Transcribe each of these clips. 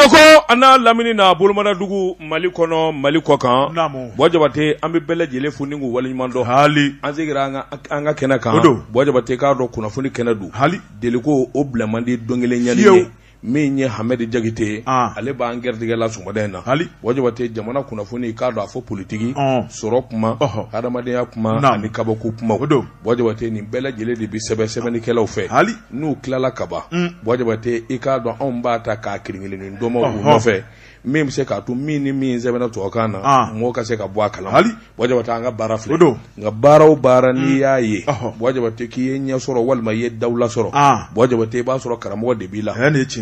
Bamakɔ a n'a lamini na bolomana dugu mali kɔnɔ mali kɔkan bɔ jabate an bɛ bɛɛ lajɛlen fo ni k'u waleɲumandɔn hali an segira an ka kɛnɛ kan don bɔ jabate k'a dɔn kunnafoni kɛnɛ don hali deliko o bila man di don kelen ɲɛ ye min ye hamɛdi jakite ale b'an gɛrɛtigɛ la sɔgɔmada in na hali bɔ jabate jamana kunnafoni k'a dɔn a fɔ politigi sɔrɔ kuma hadamadenya kuma ani kabako kuma don bɔ jabate nin bɛɛ lajɛlen de bɛ sɛbɛn sɛbɛnnikɛlaw fɛ hali n'u tilala ka ban bɔ jabate i k'a dɔn anw b'a ta k'a kelen kelen tɔmɔ u nɔfɛ min bɛ se k'a to min ni min sɛbɛnna tubabukan na mɔgɔ ka se ka bɔ a kala ma hali bɔ jabate an ka baara filɛ don nka baara o baara n'i y'a ye bɔ jabate k'i ye ɲɛ sɔrɔ walima i ye dawula sɔrɔ bɔ jabate i b'a sɔrɔ karamɔgɔ de b'i la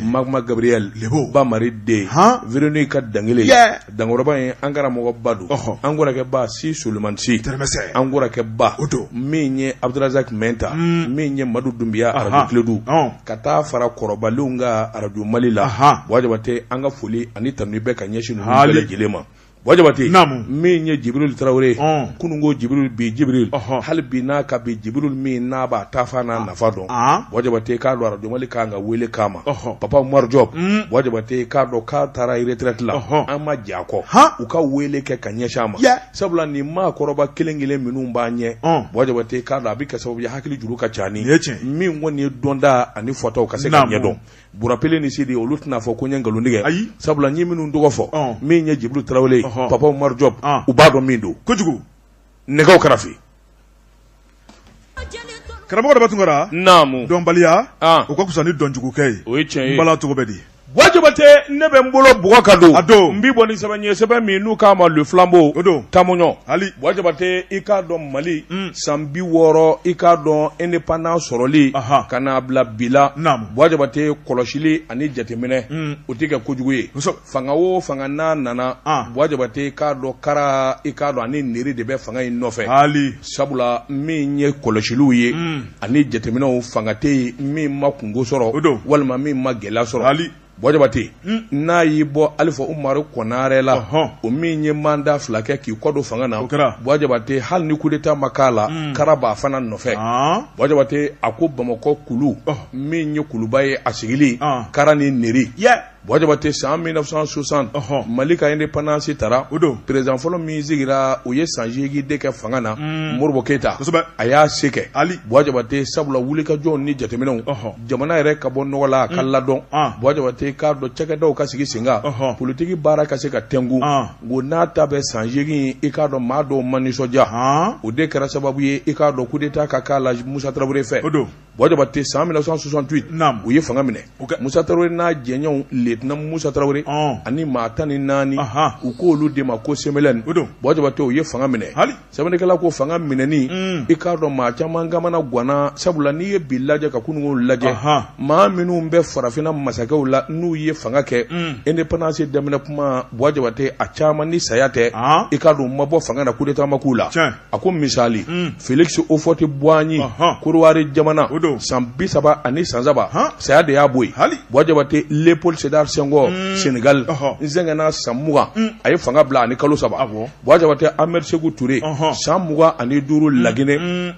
magma gabriel ba mari den véronique ka dankelen dankɔrɔba in an karamɔgɔba don an kɔrɔkɛba si solomani si tɛmɛsɛ an kɔrɔkɛba o don min ye abudurazaki mɛnta min ye madu dunbiya arajo kledu ka taa fara kɔrɔbalenw kan arajo mali la buwa jabate an ka foli ani tanu bɛ ka ɲɛsin ninnu bɛɛ lajɛlen ma buwa jabate min ye jibiri tarawele kunun ko jibiri bi jibiri hali bi n'a ka bi jibiri min n'a b'a taafan n'a nafa dɔn bɔ jabate k'a dɔn arajo mali kan ka weele k'a ma papa umaru diop bɔ jabate k'a dɔn k'a taara retraite la an ma jɛ a kɔ u ka weele kɛ ka ɲɛsin a ma sabula nin maakɔrɔba kelen kelen minnu b'an ɲɛ bɔ jabate k'a dɔn a bɛ kɛ sababu ye hakili juru ka ca ni min kɔni ye dɔnta ani fɔtaw ka se ka ɲɛdɔn bura pele ni sidi olu tɛna fɔ ko n ye nkalon tigɛ ayi sabula n ye minnu tɔgɔ fɔ min ye jibiri tarawele papa umaru diop u b'a dɔn min don kojugu nɛgɛ karafe Karamɔgɔ daba tunkara naamu dɔnbaliya o ka fisa ni dɔnjugukɛ ye o ye tiɲɛ ye bala cogo bɛ di buwa jabate ne bɛ n bolo bugɔ ka don a don n bɛ bɔ ni sɛbɛn ye sɛbɛn min n'u k'a ma le flambeau o don tamuɲɔ hali buwa jabate i k'a dɔn mali san bi wɔɔrɔ i k'a dɔn indépendance sɔrɔli ka n'a bila bi la naamu buwa jabate kɔlɔsili ani jateminɛ o tɛ kɛ kojugu ye fanga o fanga n'a nana ah. buwa jabate k'a dɔn kara i k'a dɔn ani nɛri de bɛ fanga in nɔfɛ hali sabula min ye kɔlɔsiliw ye mm. ani jateminɛw fanga tɛ yen min ma kungo sɔrɔ o don walima min ma gɛlɛya sɔrɔ hali buwa jabate mm. n'a y'i bɔ alifa umaru kɔnare la uh -huh. o min ye manda fila kɛ k'i kɔdon fanga na buwa jabate hali ni kudeta ma k'a la mm. kara b'a fana nɔfɛ ah. buwa jabate a ko bamakɔ kulu oh. min ye kuluba ye a sigili ah. kara ni nɛri yeah. Buwa jabate san mille neuf cent soixante mali ka indépendance tara o don président fɔlɔ min sigira o ye san segin de kɛ fanga na modibo keyita a y'a se kɛ hali buwa jabate sabula wulikajɔw ni jateminɛw jamana yɛrɛ ka bɔ nɔgɔ la a ka ladon buwa jabate k'a dɔn cakɛdaw ka sigi sen kan politigi baara ka se ka tɛnku ko n'a ta bɛ san segin i k'a dɔn maa dɔw ma nisɔndiya o de kɛra sababu ye i k'a dɔn kudeta ka k'a la musa tarawele fɛ o don Bɔ Jabate san 1968 u ye fanga minɛ musa tarawele n'a jɛɲɔgɔnw lieutenant musa tarawele ani maa tan ni naani u ko olu de ma ko CMLN bɔ jabate u ye fanga minɛ sɛbɛnnikɛla ko fanga minɛnen i k'a dɔn maa caman kamana ganna sabula n'i ye bi lajɛ ka kunun ko lajɛ maa minnu bɛ farafinna masakɛw la n'u ye fanga kɛ indépendance daminɛ kuma bɔ jabate a caman ni saya tɛ i k'a dɔn u ma bɔ fanga na coup d'état ma k'u la a ko misali hmm. felix houphouët-boigny kɔdiwari jamana san bi saba ani san saba saya de y'a bɔ yen buwa jabate leopold sedar senghor hmm. senegal n sɛgɛnna san mugan hmm. a ye fanga bila ani kalo saba buwa jabate ahmed seku ture san mugan ani duuru laginɛ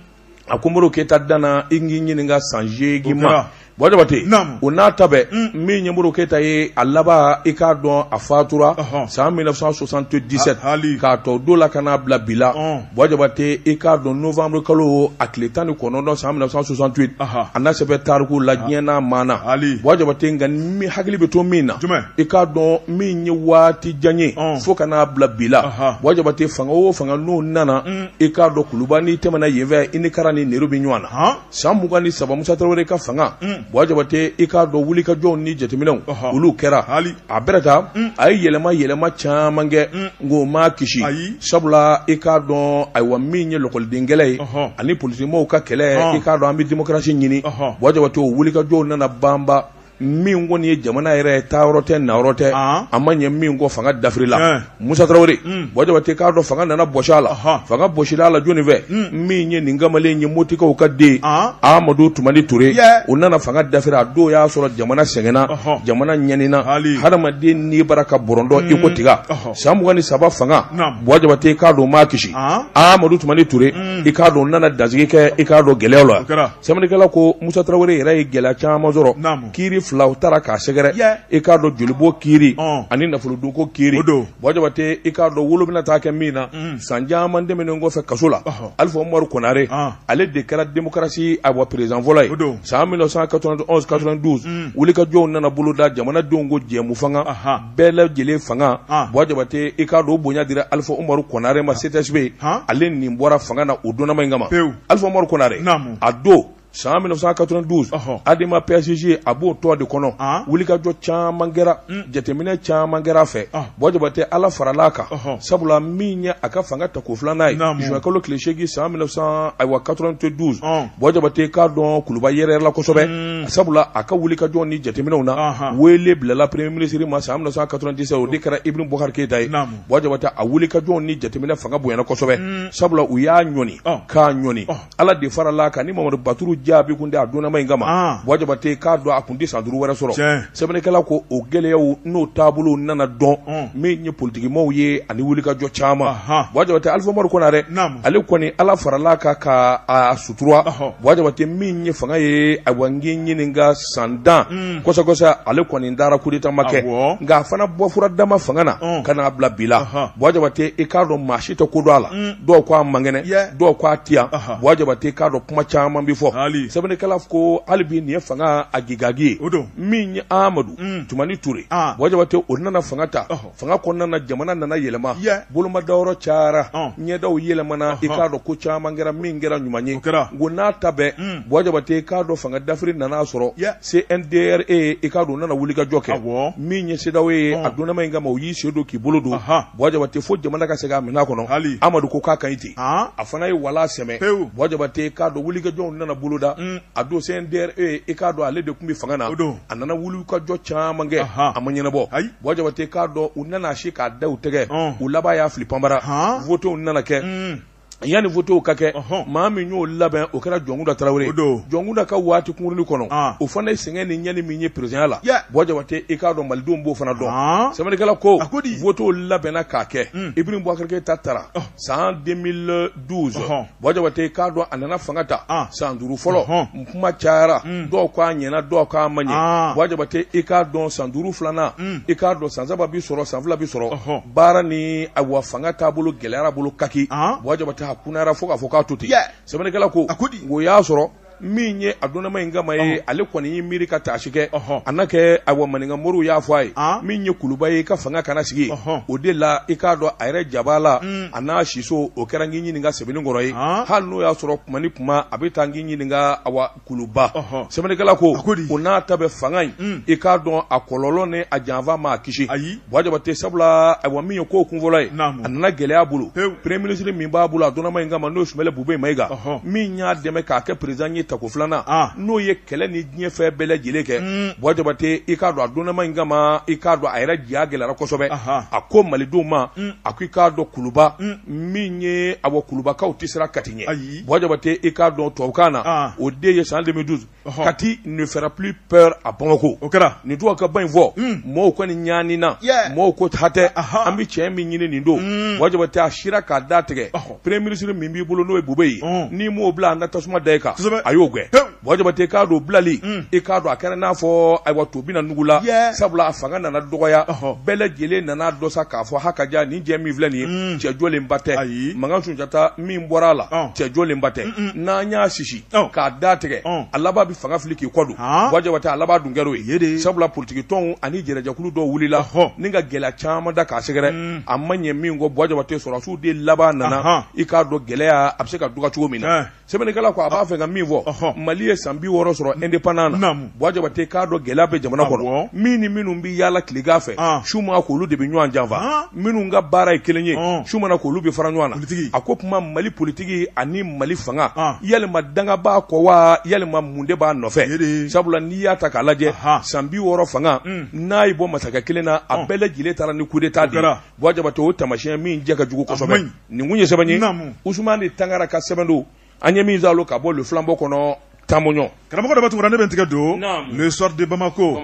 a ko modibo keyita danna i k'i ɲininka san seegin ma bɔ jabate o n'a ta bɛɛ mm. min ye modibo keyita ye a laban i k'a dɔn a fatura san 1977 k'a t'o don la ka n'a bila bi la bɔ jabate i k'a dɔn novembre kalo a tile tan ni kɔnɔntɔn san 1968 a na sɛbɛn tariku la diɲɛ n'a maana bɔ jabate nka min hakili bɛ to min na i k'a dɔn min ye waati jan ye fo ka n'a bila bi la bɔ jabate fanga o fanga n'o nana mm. i k'a dɔn kuluba n'i tɛmɛna yen fɛ i ni kara ni nero bɛ ɲɔgɔn na san mugan ni saba musa tarawele ka fanga bɔ jabate i k'a dɔn wulikajɔw ni jateminɛw olu kɛra a bɛrɛ ta a ye yɛlɛma yɛlɛma caman kɛ nk'o m'a kisi sabula i k'a dɔn ayiwa min ye lakɔlidenkɛlɛ ye ani politikimɔgɔw ka kɛlɛ i k'a dɔn an bɛ démocratie ɲini bɔ jabate o wulikajɔw nana banba min kɔni ye jamana yɛrɛ ye taayɔrɔ tɛ nayɔrɔ tɛ a ma ɲɛ min kɔ fanga dafirila musa tarawele bɔ jabate k'a dɔn fanga nana bɔsi a la fanga bɔsila a la jɔnni fɛ min ye nin kamalen ye motikaw ka den amadu tumani toure o nana fanga dafiri a don y'a sɔrɔ jamana sɛgɛnna jamana ɲanina hadamaden ni bara ka bɔrɔndɔ iko tiga san mugan ni saba fanga bɔ jabate k'a dɔn m'a kisi amadu tumani toure i k'a dɔn nana dansigi kɛ i k'a dɔn gɛlɛya la Sɛbɛnnikɛla ko Musa Tarawele yɛrɛ ye gɛlɛya caman sɔrɔ, naamu, kiiri fila u taara k'a sɛgɛrɛ, yɛ, i k'a dɔn jolibɔn kiiri, ɔn, ani nafolodunko kiiri, o don, Bɔ Jabate i k'a dɔn wolo bɛna taa kɛ min na, un, san caman tɛmɛnen kɔfɛ kaso la, ɔhɔ, Alifa Umaru Konare, an, ale de kɛra démocratie ayiwa président fɔlɔ ye, o don, san 1991 92 un, wulikajɔw nana boloda jamanadenw ko jɛmu fanga, anhan bɛɛ lajɛlen fanga bɔ jabate i k'a dɔn o bonya dira alifa umaru konare ma CTSP ale nin bɔra fanga na o donnama in kama alifa umaru konare a don san 1992 adema PASJ a b'o tɔn de kɔnɔ wulikajɔ caman kɛra jateminɛ caman kɛra a fɛ bɔ jabate ala farala a kan sabula min ye a ka fanga tako filanan ye juin kalo tile seegin san 1900 ayiwa 92 Bɔjabate k'a dɔn kuluba yɛrɛyɛrɛla kosɛbɛ sabula a ka wulikajɔ ni jateminɛw na wele bilala premier ministre ma san cent quatre-vingt-dix-sept o de kɛra ibrahim bubakari keyita ye bɔjabate a wulikajɔ ni jateminɛ fanga bonyana kosɛbɛ sabula u y'a ɲɔni k'a ɲɔni ala de farala a kan ni mamadu baturu jabi kun tɛ a dɔnnama in kama bɔjabate k'a dɔn a kun tɛ san duuru wɛrɛ sɔrɔ sɛbɛnnikɛla ko o gɛlɛyaw n'o taabolo nana dɔn mm. min ye politikimaaw ye ani wulikajɔ caman bɔjabate alifa umaru konare ale kɔni ala farala a kan k'a sutura bɔjabate min ye fanga ye awa n k'i ɲininka san tan mm. kɔsɔkɔsɔ ale kɔni dara kudeta ma kɛ nka a fana bɔfura dama fanga na mm. ka n'a bila bi la bɔjabate i k'a dɔn maa si tɛ ko dɔn a la dɔw ko a man kɛnɛ dɔw ko a tɛ yan bɔjabate i k'a dɔn kuma caman bɛ fɔ sɛbɛnnikɛla ko hali bi nin ye fanga a gage o don min ye amadu tumani ture bɔjabate o nana fanga ta fanga kɔnɔna jamana nana yɛlɛma bolomadayɔrɔ cayara ɲɛdaw yɛlɛmana i k'a dɔn ko caman kɛra min kɛra ɲuman ye ko n'a ta bɛɛ bɔjabate i k'a dɔn fanga dafiri nana sɔrɔ CNDRE i k'a dɔn nana wulikajɔ kɛ min ye CEDEAO ye a dɔnnama in kama o y'i sen don k'i bolo don bɔjabate fo jamana ka segin a mina kɔnɔ amadu ko k'a ka ɲi ten a fana ye wala sɛmɛ bɔjabate k'a dɔn wulikajɔw nana boloda a don CNDRE i k'a dɔn ale de tun bɛ fanga na a nana wulikajɔ caman kɛ a ma ɲɛnabɔ bɔjabate k'a dɔn u nana se k'a da u tɛgɛ u laban y'a fili panbara wotew nana kɛ yani wotew ka kɛ maa min y'o labɛn o kɛra jɔnkunda tarawele jɔnkunda ka waati kunkurunin kɔnɔ o fana ye sɛgɛn ni ɲani min ye perezidanya la bɔjabate i k'a dɔn malidenw b'o fana dɔn sɛbɛnnikɛla ko wotew labɛnna k'a kɛ ibrahim bubakari keyita tara san deux mille douze bɔjabate i k'a dɔn a nana fanga ta san duuru fɔlɔ n kuma cayara dɔw k' a ɲɛna dɔw k'a ma ɲɛ bɔjabate i k'a dɔn san duuru filanan i k'a dɔn san saba bɛ sɔrɔ san fila bɛ sɔrɔ baara ni awa fanga taabolo gɛlɛyara bolo kaki bɔjabate a kunayara fo k'a fɔ k'a to ten sɛbɛnnikɛla ko o y'a sɔrɔ min ye a dɔnnama in kama ye ale kɔni y'i miiri ka taasi kɛ a na kɛ awa maninka moriw y'a fɔ a ye min ye kuluba ye i ka fanga kana sigi o de la i k'a dɔn a yɛrɛ jaba la a n'a siso o kɛra n k'i ɲininka sɛbɛnni kɔrɔ ye hali n'o y'a sɔrɔ kuma ni kuma a bɛ taa n k'i ɲininka awa kuluba sɛbɛnnikɛla ko o n'a ta bɛɛ fanga in i k'a dɔn a kɔlɔlɔ ni a janfa ma a kisi ayi Bɔjabate sabula awa min ye ko kunfɔlɔ ye a nana gɛlɛya bolo premier ministre min b'a bolo a dɔnnama in kama n'o ye sumeyilu bubɛyi mayiga min y'a dɛmɛ k'a kɛ perezidan ye tako filanan n'o ye kɛlɛ ni diɲɛ fɛn bɛɛ lajɛlen kɛ bɔjabate i k'a dɔn a dɔnnama in kama i k'a dɔn a yɛrɛ ja gɛlɛyara kosɛbɛ a ko malidenw ma a ko i k'a dɔn kuluba min ye awa kulubakaw tɛ siran kati ɲɛ ayi bɔjabate i k'a dɔn tubabukan na o de ye san denmisɛnmi duuru kati ne fera plus peur à bamako o kɛra nin tɔgɔ ka ba in fɔ mɔgɔw kɔni ɲanina mɔgɔw ko hatɛ an bɛ cɛ min ɲini nin don buwa jabate a sira k'a da tigɛ premier ministre min b'i bolo n'o ye bubɛyi ye n'i m'o bila an na tasuma da e kan a y'o gɛn buwa jabate k'a dɔn bilali e k'a dɔn a kɛra n'a fɔ ayiwa to bɛna nugu la sabula a fanga nana dɔgɔya bɛɛ lajɛlen nana dɔn sa k'a fɔ ha ka jaa nin cɛ min filɛ nin ye cɛjɔlen ba tɛ ayi makan sunjata min bɔra a la cɛjɔlen ba tɛ n'an y'a sisi k'a da tigɛ a laban bɛ fanga fili k'i kɔ don buwa jabate a laban dun kɛr'o ye sabula politigi tɔnw ani jɛrɛjɛkulu dɔw wulila hɔ ni ka gɛlɛya caman da k'a sɛgɛrɛ a ma ɲɛ min kɔ buwa jabate sɔrɔdasiw de laban nana i k'a dɔn gɛlɛya a bɛ se ka dɔgɔya cogo min na sɛbɛnnikɛla ko a b'a fɛ ka min fɔ mali ye san bi wɔɔrɔ sɔrɔ indépendance na Jabate k'a dɔn gɛlɛya bɛ jamana kɔnɔ min ni minnu bɛ yaala tilegan fɛ su ma k'olu de bɛ ɲɔgɔn janfa minnu ka baara ye kelen ye su mana k'olu bɛ fara ɲɔgɔn na a k'o tuma mali politigi ani mali fanga yalima danga b'a kɔ wa yalima mun de b'a nɔfɛ sabula n'i y'a ta k'a lajɛ san bi wɔɔrɔ fanga n'a ye bɔ masakɛ kelen na a bɛɛ lajɛlen taara ni coup d'état de buwa jabate o tamasiɲɛ min cɛ ka jugu kosɛbɛ nin kun ye sɛbɛn ye usumani tangara ka sɛbɛn don an ye min zalo ka bɔ le flambeau kɔnɔ tamoɲɔ karamɔgɔ daba tunkara ne bɛ n tɛgɛ don le soir de bamako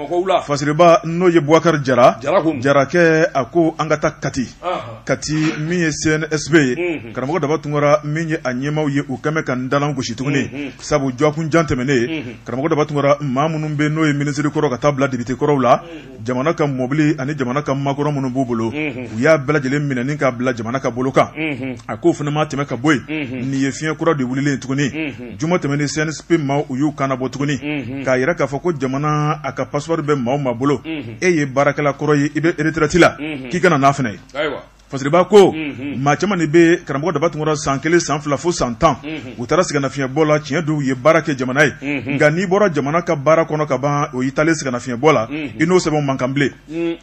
fasiriba n'o ye buwakari jara jarakɛ a ko an ka taa kati kati min ye cnsp ye mhm. karamɔgɔ daba tunkara min ye a ɲɛmaw ye u kɛmɛ ka n dalan gosi tuguni mhm, mhm. sabu dɔgɔkun jan tɛmɛnen karamɔgɔ daba tunkara maa minnu bɛ n'o ye minisiri kɔrɔw ka taa bila depite kɔrɔw la jamana ka mɔbili ani jamana ka makɔrɔ minnu b'u bolo u y'a bɛɛ lajɛlen minɛ ni k'a bila jamana ka bolo kan a k'o fana ma tɛmɛ ka bɔ yen nin ye fiɲɛ kura de wililen tuguni juma tɛmɛnen cnsp maaw y'u kan bɔ tuguni k'a yira k'a fɔ ko jamana a ka passeport bɛ maa o maa bolo e ye baarakɛla kɔrɔ ye i bɛ retraite la k'i kana n'a fana ye Fasiriba ko maa caman de bɛ karamɔgɔ daba tunkara san kelen san fila fo san tan u taara sɛgɛnnafiyɛnbɔ la tiɲɛ don u ye baara kɛ jamana ye nka n'i bɔra jamana ka baara kɔnɔ ka ban o y'i taalen sɛgɛnnafiyɛnbɔ la i n'o sɛbɛn man kan bilen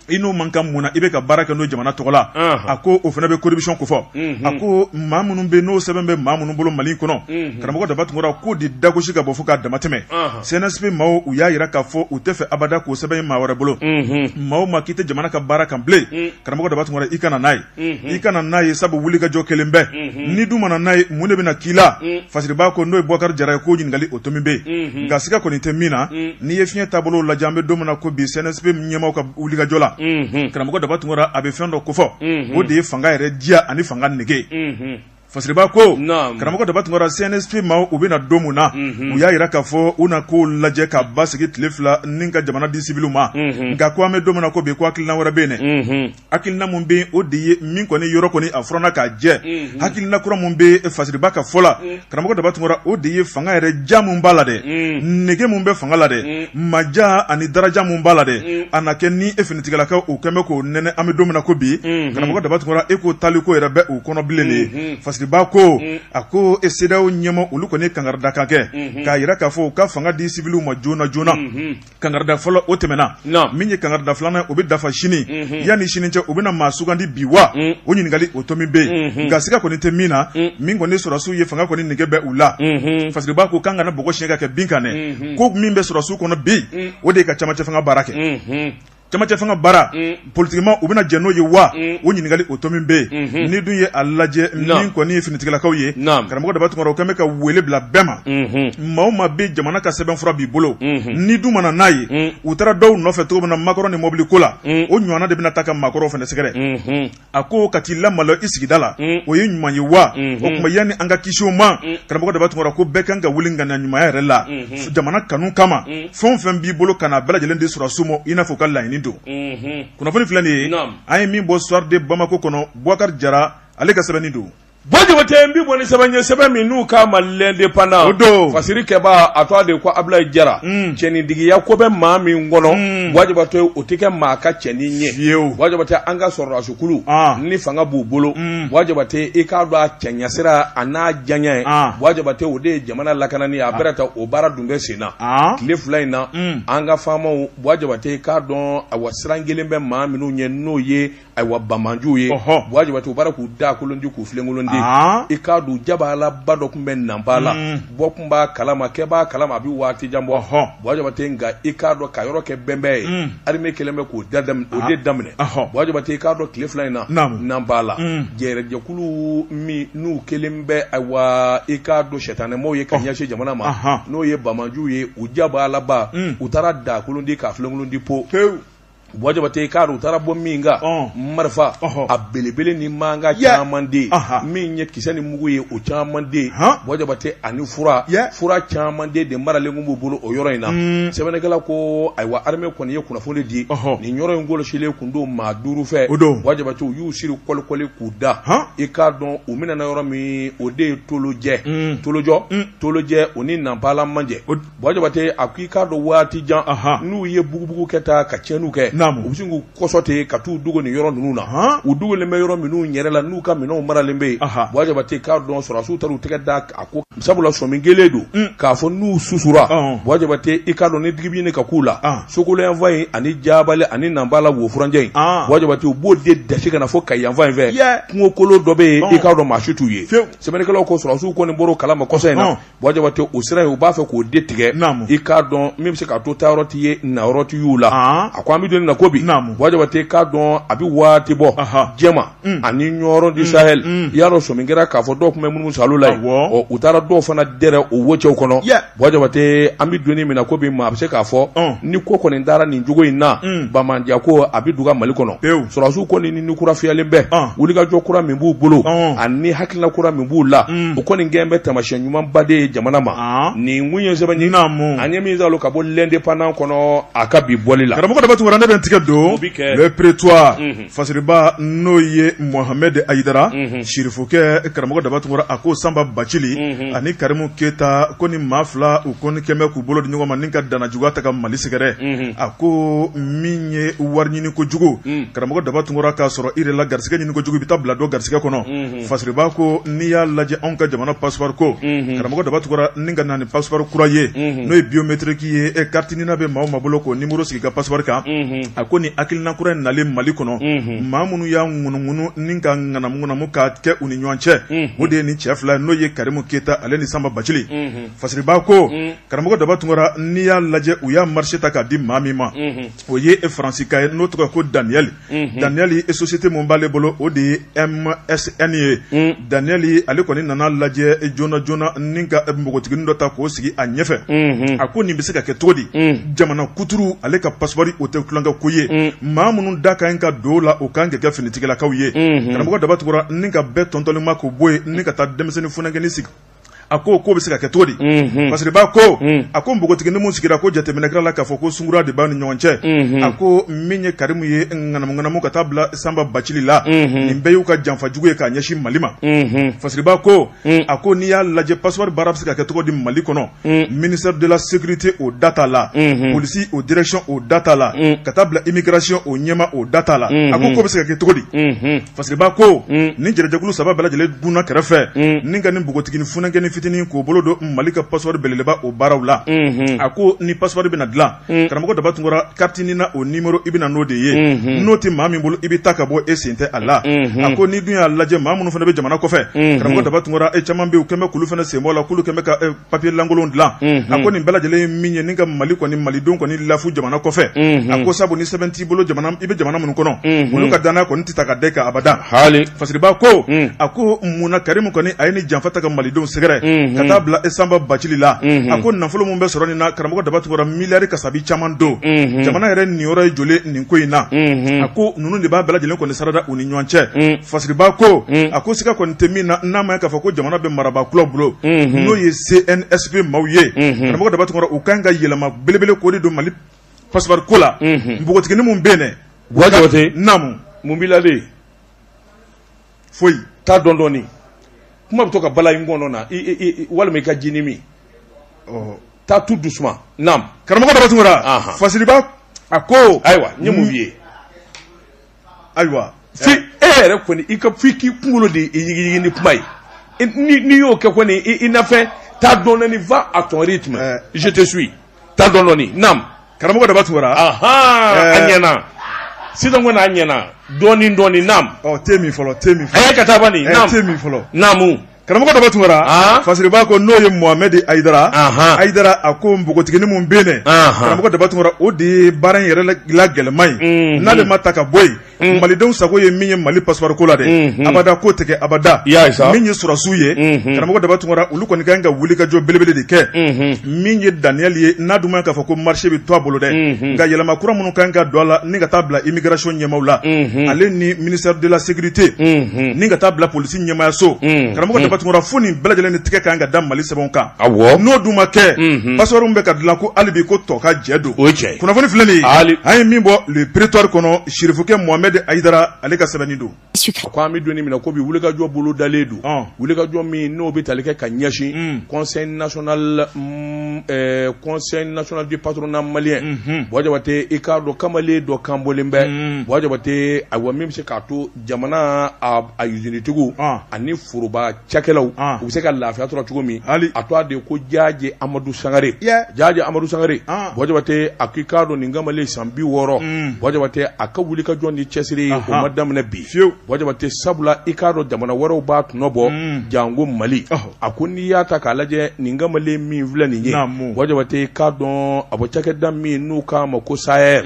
i n'o man kan mun na i bɛ ka baara kɛ n'o jamana tɔgɔ la a ko o fana bɛ kobiy kofɔ a ko maa minnu bɛ n'o sɛbɛn bɛ maa minnu bolo mali kɔnɔ karamɔgɔ daba tunkara k'o de dagosi ka bɔ fo ka damatɛmɛ cnsp maaw u y'a jira k'a fɔ u t'a fɛ abada k'o sɛbɛn ye maa wɛrɛ bolo maa o maa k'i tɛ jamana ka baara kan bilen karamɔgɔ daba tunkara i kana n'a ye i kana n'a ye sabu wulikajɔ kelen bɛɛ ni dun mana n'a ye mun de bɛna k'i la fasiriba ko n'o ye buwakari jara ye ko ɲininkali o tomi bɛ yen nka siga kɔni tɛ min na n'i ye fiɲɛ taabolo lajɛ an bɛ don min na ko bi cnsp ɲɛmaw ka wulikajɔ la karamɔgɔ daba tunkara a bɛ fɛn dɔ kofɔ o de ye fanga yɛrɛ diya ani fanga nege Fasiriba ko karamɔgɔ daba tunkara CNSP maaw u bɛ na don min na u y'a yira k'a fɔ u na ko lajɛ ka basigi tile fila ni ka jamana di sibili ma nka ko an bɛ don min na ko bi ko hakilina wɛrɛ bɛ yen hakilina min bɛ o de ye min kɔni yɔrɔ kɔni a furanna k'a jɛ hakilina kura min bɛ fasiriba ka fɔ la karamɔgɔ daba tunkara o de ye fanga yɛrɛ ja min b'a la dɛ nege min bɛ fanga la dɛ maja ani daraja min b'a la dɛ mm. a na kɛ ni e finitigilakaw u kɛlen bɛ k'o nɛnɛ an bɛ don min na ko bi mm-hmm. karamɔgɔ daba tunkara e ko taali ko yɛrɛ bɛ u kɔnɔ bilen de ye mm-hmm. fasiriba ko mm. a ko e CEDEAO ɲɛmaa olu kɔni ye kangarida kan kɛ mm-hmm. k'a yira k'a fɔ u ka fanga di sibiliw ma joona joona kangarida fɔlɔ o tɛmɛna min ye kangarida filanan o bɛ dafa sini yanni sini cɛ u bɛna maa sugandi bi wa mm. o ɲininkali o tomi bɛ yen nka siga kɔni tɛ min na min kɔni sɔrɔsiw ye fanga kɔni nege bɛ u la fasiriba ko k'an kana bɔgɔ siɲɛ ka kɛ bin kan dɛ ko min bɛ sɔrɔsiw kɔnɔ bi o de ye ka camancɛ fanga baara kɛ camancɛ fanga baara politigimaaw u bɛna jɛn n'o ye wa o ɲininkali o tomi bɛ yen n'i dun ye a lajɛ min kɔni ye finitigilakaw ye karamɔgɔ daba tunkara u kɛlen bɛ ka weele bila bɛɛ ma maa o maa bɛ jamana ka sɛbɛn fura b'i bolo n'i dun ma na n'a ye u taara dɔw nɔfɛ cogo min na makɔrɔ ni mɔbili ko la o ɲɔgɔnna de bɛna taa ka maakɔrɔw fana sɛgɛrɛ a ko ka t'i lamalo i sigida la mm. o ye ɲuman ye wa mm-hmm. o tuma yanni an ka kisi o ma mm. karamɔgɔ daba tunkara ko bɛɛ kan ka wuli ŋaniya ɲumanya yɛrɛ la mm-hmm. jamana kanu kama mm. fɛn o fɛn b'i bolo ka na bɛɛ lajɛlen di sɔrɔsiw ma i n'a fɔ u ka laɲini don mm-hmm. kunnafoni filɛ nin ye an ye min bɔ soir de bamako kɔnɔ bubakari jara ale ka sɛbɛnni don Buwa jabate n bɛ bɔ ni sɛbɛn ye sɛbɛn min n'u k'a ma l'Indépendant o don fasiri kɛba a tɔgɔ de ko abulayi jara cɛnidigiya ko bɛ maa min kɔnɔ buwa jabate o tɛ kɛ maa ka cɛnin ɲɛ buwa jabate an ka sɔrɔdasikulu ni fanga b'u bolo buwa jabate i k'a dɔn a cɛɲa sira a n'a janya ye buwa jabate o de ye jamana lakanani a bɛrɛ ta o baara dun bɛ sen na tile fila in na an ka faamaw buwa jabate i k'a dɔn awa siran kɛlen bɛ maa minnu ɲɛ n'o ye ayiwa banbaanciw ye buwa jabate u taara k'u daakolon ti k'u filenkolon ti i k'a dɔn jabalaba dɔ tun bɛ nanpala mm. bɔ tun b'a kalama kɛ b'a kalama a bɛ waati jan bɔ buwa jabate nka i k'a dɔn ka yɔrɔ kɛ bɛnbɛn ye mm. arime kɛlen bɛ k'o de daminɛ buwa jabate i k'a dɔn tile fila in na nanpala mm. jɛrɛjɛkulu min n'u kɛlen bɛ ayiwa i k'a dɔn sɛtanɛmaw ye ka ɲɛsin jamana ma n'o ye banbaanciw ye u jabalaba u taara a daakolon ti k'a filenkolon ti po buwa jabate i k'a dɔn u taara bɔ min kan Ɔn. marifa Ɔhɔ. a belebele ni mankan Yeah. caman de ye Aha. min ye kisɛ ni mugu ye o caman de ye Han. buwa jabate ani fura Yeah. fura caman de de maralen kun b'u bolo o yɔrɔ in na Mm. sɛbɛnnikɛla ko ayiwa armée kɔni ye kunnafoni di Ɔhɔ. nin yɔrɔ in kɔlɔsilen kun don maa duuru fɛ O don. buwa jabate u y'u siri kɔlikɔli k'u da Han. i k'a dɔn u minɛna yɔrɔ min o de ye tolojɛ Mm. tolojɔ Mm. tolojɛ o ni nanpala man jan O- Bwa Jabate a ko i k'a dɔn waati jan n'u ye bugubugu kɛ taa ka tiɲɛni kɛ u sin k'u kɔsɔ ten ka taa u dogo nin yɔrɔ ninnu na u dogolen bɛ yɔrɔ minnu yɛrɛ la n'u ka minɛn maralen bɛ yen Bwa Jabate k'a dɔn sɔrɔsiw taara u tɛgɛ da a ko sabula sɔmi kɛlen don k'a fɔ n'u susura Bwa Jabate i k'a dɔn ni digi bɛ ka k'u la Sokolo yanfan in ani Jabali ani Nanpala o furancɛ in Bwa Jabate u b'o de dɛsɛse ka na fo Kayi yanfan in fɛ kungokolon dɔ bɛ yen i k'a dɔn maa si t'u ye sɛbɛnnikɛlaw ko sɔrɔsiw kɔni bɔr'o kalama kɔsa in na Jabate o sira in u b'a fɛ k'o de tigɛ i k'a dɔn min bɛ se ka to taayɔrɔ t'i ye nayɔrɔ t'i y'u la a ko an bɛ don min na ko bi Bwa Jabate k'a dɔn a bɛ waati bɔ Jɛma ani Ɲɔrɔ du Sahel i y'a dɔn sɔmi kɛra k'a fɔ dɔw tun bɛ munumunu salo la yen u taara dɔw fana dɛrɛ o wo cɛw kɔnɔ Bwa Jabate an bɛ don min na ko bi maa a bɛ se k'a fɔ ni ko kɔni taara nin cogo in na Bamajan ko a bɛ duga Mali kɔnɔ sɔrɔsiw kɔni ni kura fiyɛlen bɛ wulikajɔ kura min b'u bolo ani hakilila kura min b'u la o kɔni kɛlen bɛ taamasiyɛn ɲumanba de ye jamana ma nin kun ye sɛbɛn ye an ye min sɔrɔ ka bɔ l'Indépendant kɔnɔ a ka bi bɔli la karamɔgɔ daba tunkara ne bɛ n tigɛ don Le Prétoire fasiriba n'o ye mohamɛdi ayidara sirifukɛ karamɔgɔ daba tunkara a ko sanba bacili ani karimu keyita ko nin maa fila u kɔni kɛlen bɛ k'u bolo di ɲɔgɔn ma ni ka dannajuguya ta ka mali sɛgɛrɛ a ko min ye wari ɲini kojugu mm. karamɔgɔ daba tunkara k'a sɔrɔ i la garisɛgɛ ɲini kojugu i bɛ taa bila dɔ garisɛgɛ kɔnɔ mm-hmm. fasiriba ko n'i y'a lajɛ anw ka jamana passeport ko mm-hmm. karamɔgɔ daba tunkara ni ka na ni passeport kura ye mm-hmm. n'o ye biométrique ye e carte NINA bɛ maa o maa bolo k'o nimɔrɔ sigi ka passeport kan a ko nin hakilina kura in nalen mali kɔnɔ maa minnu y'a ŋunuŋunu ni ka ŋanamuŋanamu k'a kɛ u ni ɲɔgɔn cɛ o de ye nin cɛ fila n'o ye karimu keyita ale ni sanba bacili fasiriba ko mm. karamɔgɔ daba tunkara n'i y'a lajɛ u y'a marché ta k'a di maa min ma o ye e faransika ye n'o tɔgɔ ko Daniel Daniel e société min b'ale bolo o de ye MSN ye Daniel ale kɔni nana lajɛ e joona joona ni ka npogotiginin dɔ ta k'o sigi a ɲɛfɛ a ko nin bɛ se ka kɛ cogo di jamana kuturu ale ka passeport o tɛ tulonkɛ ko ye maa minnu da ka ɲi ka don la o kan ka kɛ finitigilakaw ye karamɔgɔ daba tunkara ni ka bɛɛ tɔntɔnli ma k'o bɔ yen ni ka taa denmisɛnnin funankɛnin sigi a ko k'o bɛ se ka kɛ cogo di mhm. fasiriba ko mhm. a ko npogotiginin min sigira ko jateminɛkɛla la k'a fɔ ko sunkura de b'a ni ɲɔgɔn cɛ mhm. a ko min ye karimu ye ŋanamuŋanamu ka taa bila sanba bacili la nin bɛɛ y'u ka janfa jugu ye k'a ɲɛsin mali ma fasiriba ko a ko n'i y'a lajɛ passeport baara bɛ se ka kɛ cogo di mali kɔnɔ ministère de la sécurité o da t'a la polisi o direction o da t'a la ka taa bila immigration o ɲɛmaa o da t'a la a ko k'o bɛ se ka kɛ cogo di Fasiriba ko ni jɛnɛjɛkulu saba bɛɛ lajɛlen donna kɛrɛfɛ ni ka nin npogotiginin funankɛnin fitinin k'o bolo don mali ka passeport belebeleba o baaraw la a ko ni passeport bɛna dilan karamɔgɔ daba tunkara carte NINA o numéro i bɛ na n'o de ye n'o tɛ maa min bolo i bɛ taa ka bɔ e sen tɛ a la a ko n'i dun y'a lajɛ maa minnu fana bɛ jamana kɔfɛ karamɔgɔ daba tunkara e caman bɛ yen u kɛlen bɛ k'olu fana sen bɔ a la kɛmɛ papier lankolon dilan mhm. a ko nin bɛɛ lajɛlen ye min ye ni ka mali kɔni malidenw kɔni lafu jamana kɔfɛ mhm. a ko sabu ni sɛbɛn t'i bolo i bɛ jamana minnu kɔnɔ mhm. olu ka danaya kɔni tɛ ta ka da i kan abada hali fasiriba ko a ko mun na karimu kɔni a ye ni janfa ta ka malidenw sɛgɛrɛ ka taa bila sanba bacili la a ko nafolo min bɛ sɔrɔ nin na karamɔgɔ daba tunkara miliyari kasabi caman don jamana yɛrɛ niyɔrɔ ye joli nin ko in na a ko ninnu de b'a bɛɛ lajɛlen kɔni sarada u ni ɲɔgɔn cɛ fasiriba ko a ko siga kɔni tɛ min na n'a ma k'a fɔ ko jamana bɛ marabaa kuraw bolo n'o ye cnsp maaw ye karamɔgɔ daba tunkara u kan ka yɛlɛma belebele ko de don mali passeport ko la npogotiginin min bɛ yen dɛ bɔjabate naamu mun b'i la foyi taa dɔɔni dɔɔni kuma bɛ to ka bala i ngɔnɔ na walima i ka jinin min taa tout doucement karamɔgɔ daba tunkara fasiriba a ko ayiwa ye mun ye ayiwa fi e yɛrɛ kɔni i ka f'i k'i kunkolo de yigiyigi ni kuma ye n'i y'o kɛ kɔni i nafɛ taa dɔɔni va à ton rythme eh. je te suis taa dɔɔni nam karamɔgɔ daba tunkara ahan eh. a ɲɛna sisan kɔni a ɲɛna dɔɔni dɔɔni nam ɔ te min fɔlɔ te min fɔlɔ a ye ka taa bani eh, nam te min fɔlɔ naamu karamɔgɔ daba tunkara ah. fasiriba ko n'o ye mohamɛd ayidara ayidara a ko npogotiginin min bɛ yen karamɔgɔ daba tunkara o de ye baara in yɛrɛ la gɛlɛman ye mhm. n'ale ma ta ka bɔ yen mhm. malidenw sago ye min ye mali pasipɔri ko la dɛ mhm. abada k'o tɛ kɛ abada min ye sɔrɔsiw ye karamɔgɔ daba tunkara olu kɔni ka kan ka wulikajɔ belebele de kɛ min ye daniyɛli ye n'a dun ma k'a fɔ ko marché bɛ to a bolo dɛ nka yɛlɛma kura minnu ka kan ka don a la ni ka taa bila immigration ɲɛmaaw la ale ni ministère de la sécurité ni ka taa bila polisi ti ɲɛmaayaso mm, karamɔgɔ mm. daba tunkara fo nin bɛɛ lajɛlen ni tigɛ ka kan ka da mali sɛbɛnw kan n'o dun ma kɛ mm-hmm. passeport min bɛ ka dilan ko hali bi ko tɔkajɛ don kunnafoni filɛ nin ye an ye min bɔ le prétoire kɔnɔ sirifukɛ mohamɛd ayidara ale ka sɛbɛnni don ko an bɛ donni min na ko bi wulikajɔ bolo dalen don ah. wulikajɔ min n'o bɛ tali kɛ ka ɲɛsin mm. conseil national mm, eh, conseil national du patronat malien mm-hmm. bɔjabate i k'a dɔn kamalen dɔ kan bɔlen bɛ bɔjabate ayiwa min bɛ se k'a to jamana a usinitigiw ani foroba cakɛlaw u bɛ se ka lafiya sɔrɔ cogo min a tɔgɔ de ko jajɛ amadu sangare jajɛ amadu sangare bɔjabate a k'i k'a dɔn nin kamalen san bi wɔɔrɔ bɔjabate a ka wulikajɔ ni cɛsiri o ma daminɛ bi fewu bɔjabate sabula i k'a dɔn jamana wɛrɛw b'a tɔnɔ bɔ janko mali a ko n'i y'a ta k'a lajɛ nin kamalen min filɛ nin ye bɔjabate k'a dɔn a bɔ cakɛda min n'u k'a ma ko saer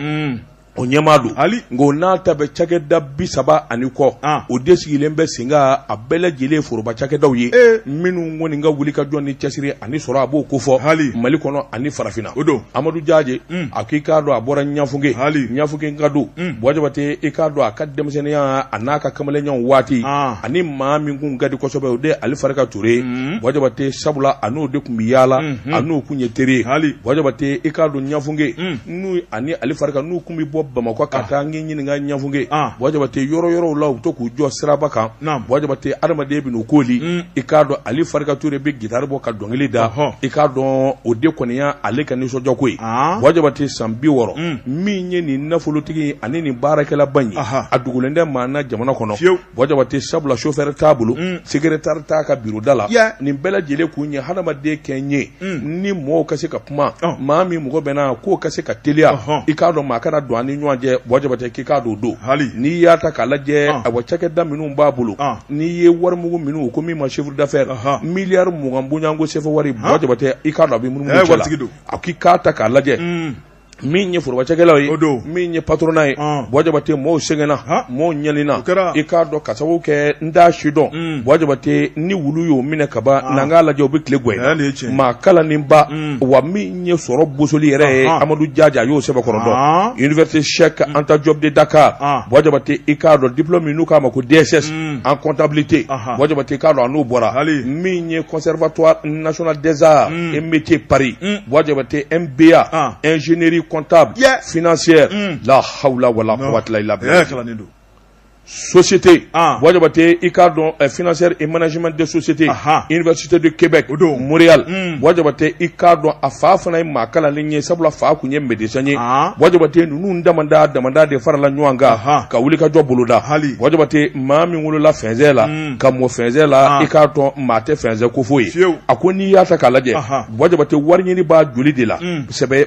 O ɲɛmaa don hali nka n'a ta bɛ cakɛda bi saba ani kɔ o de sigilen bɛ sen kan a bɛɛ lajɛlen foroba cakɛdaw ye minnu kɔni ka wuli ka jɔ ni cɛsiri ani sɔrɔ a b'o ko fɔ hali mali kɔnɔ ani farafinna o don amadu jaje a k'i k'a dɔn a bɔra ɲafunke hali ɲafunkeka don bɔjabate i k'a dɔn a ka denmisɛnninya a n'a ka kamalenya waati ani maa min kun ka di kosɛbɛ o de ali farika ture ye bɔjabate sabula a n'o de kun bɛ yaala a n'o kun ye teri ye hali bɔjabate i k'a dɔn ɲafunke n'u ani ali farika n'u kun bɛ bɔ bamakɔ ka ah. taa n k'i ɲininka ɲafunke ah. bɔjabate yɔrɔ yɔrɔw la u bɛ to k'u jɔ siraba kan bɔjabate adamaden bɛ n'u koli mm. i k'a dɔn ali farika ture bɛ gitari bɔ ka dɔnkili da i k'a dɔn o de kɔni ye ale ka nisɔndiyako ye ah. bɔjabate san bi wɔɔrɔ mm. min ye nin nafolotigi ani nin baarakɛlaba in ye a dogolen tɛ maa na jamana kɔnɔ Bɔjabate sabula chauffeur t'a bolo secrétaire t'a ka bureau da la nin bɛɛ lajɛlen kun ye hadamaden kɛ n ye ni mɔgɔw ka se ka kuma maa min mɔgɔ bɛ na k'o ka se ka teliya i k'a dɔn maa kana don a ni ɲɔgɔn cɛ bɔjabate k'i k'a don don hali n'i y'a ta k'a lajɛ a wa cakɛda minnu b'a bolo n'i ye warimugu minnu ko min ma chiffre d'affaires miliyari mugan bonyayanko sefa wari bɔjabate i k'a dɔn a bɛ minnu don a k'i k'a ta k'a lajɛ min ye forobacakɛlaw ye o don min ye patronat ye bɔjabate mɔɔw sɛgɛnna mɔɔw ɲanina i k'a dɔn ka sababu kɛ n t'a si dɔn mm. bɔjabate ni wulu y'o minɛ ka ban n'an k'a lajɛ u bɛ tile gɛn maa kalaninba mm. wa min ye sɔrɔ bosoli yɛrɛ ye amadu jaje a y'o sɛbɛkɔrɔ dɔn université cheikh mm. anta diop de dakar bɔjabate i k'a dɔn diplôme min n'u k'a ma ko dss en comptabilité bɔjabate i k'a dɔn a n'o bɔra min ye conservatoire national des arts et métiers paris bɔjabate B A ingénierie comptable financière la hawula wa la quwata illa billah société Bɔjabate i k'a dɔn financière et management de société université de Québec o don Montréal Bɔjabate i k'a dɔn a fa fana ye maa kalanlen ye sabula a fa kun ye médecin ye Bɔjabate ninnu damadɔ damadɔ de farala ɲɔgɔn kan ka wulikajɔ boloda Bɔjabate maa min wolola fɛn cɛ la ka mɔ fɛn cɛ la i k'a dɔn maa tɛ fɛnsɛn ko foyi ye a ko n'i y'a ta k'a lajɛ Jabate wari ɲini b'a joli de la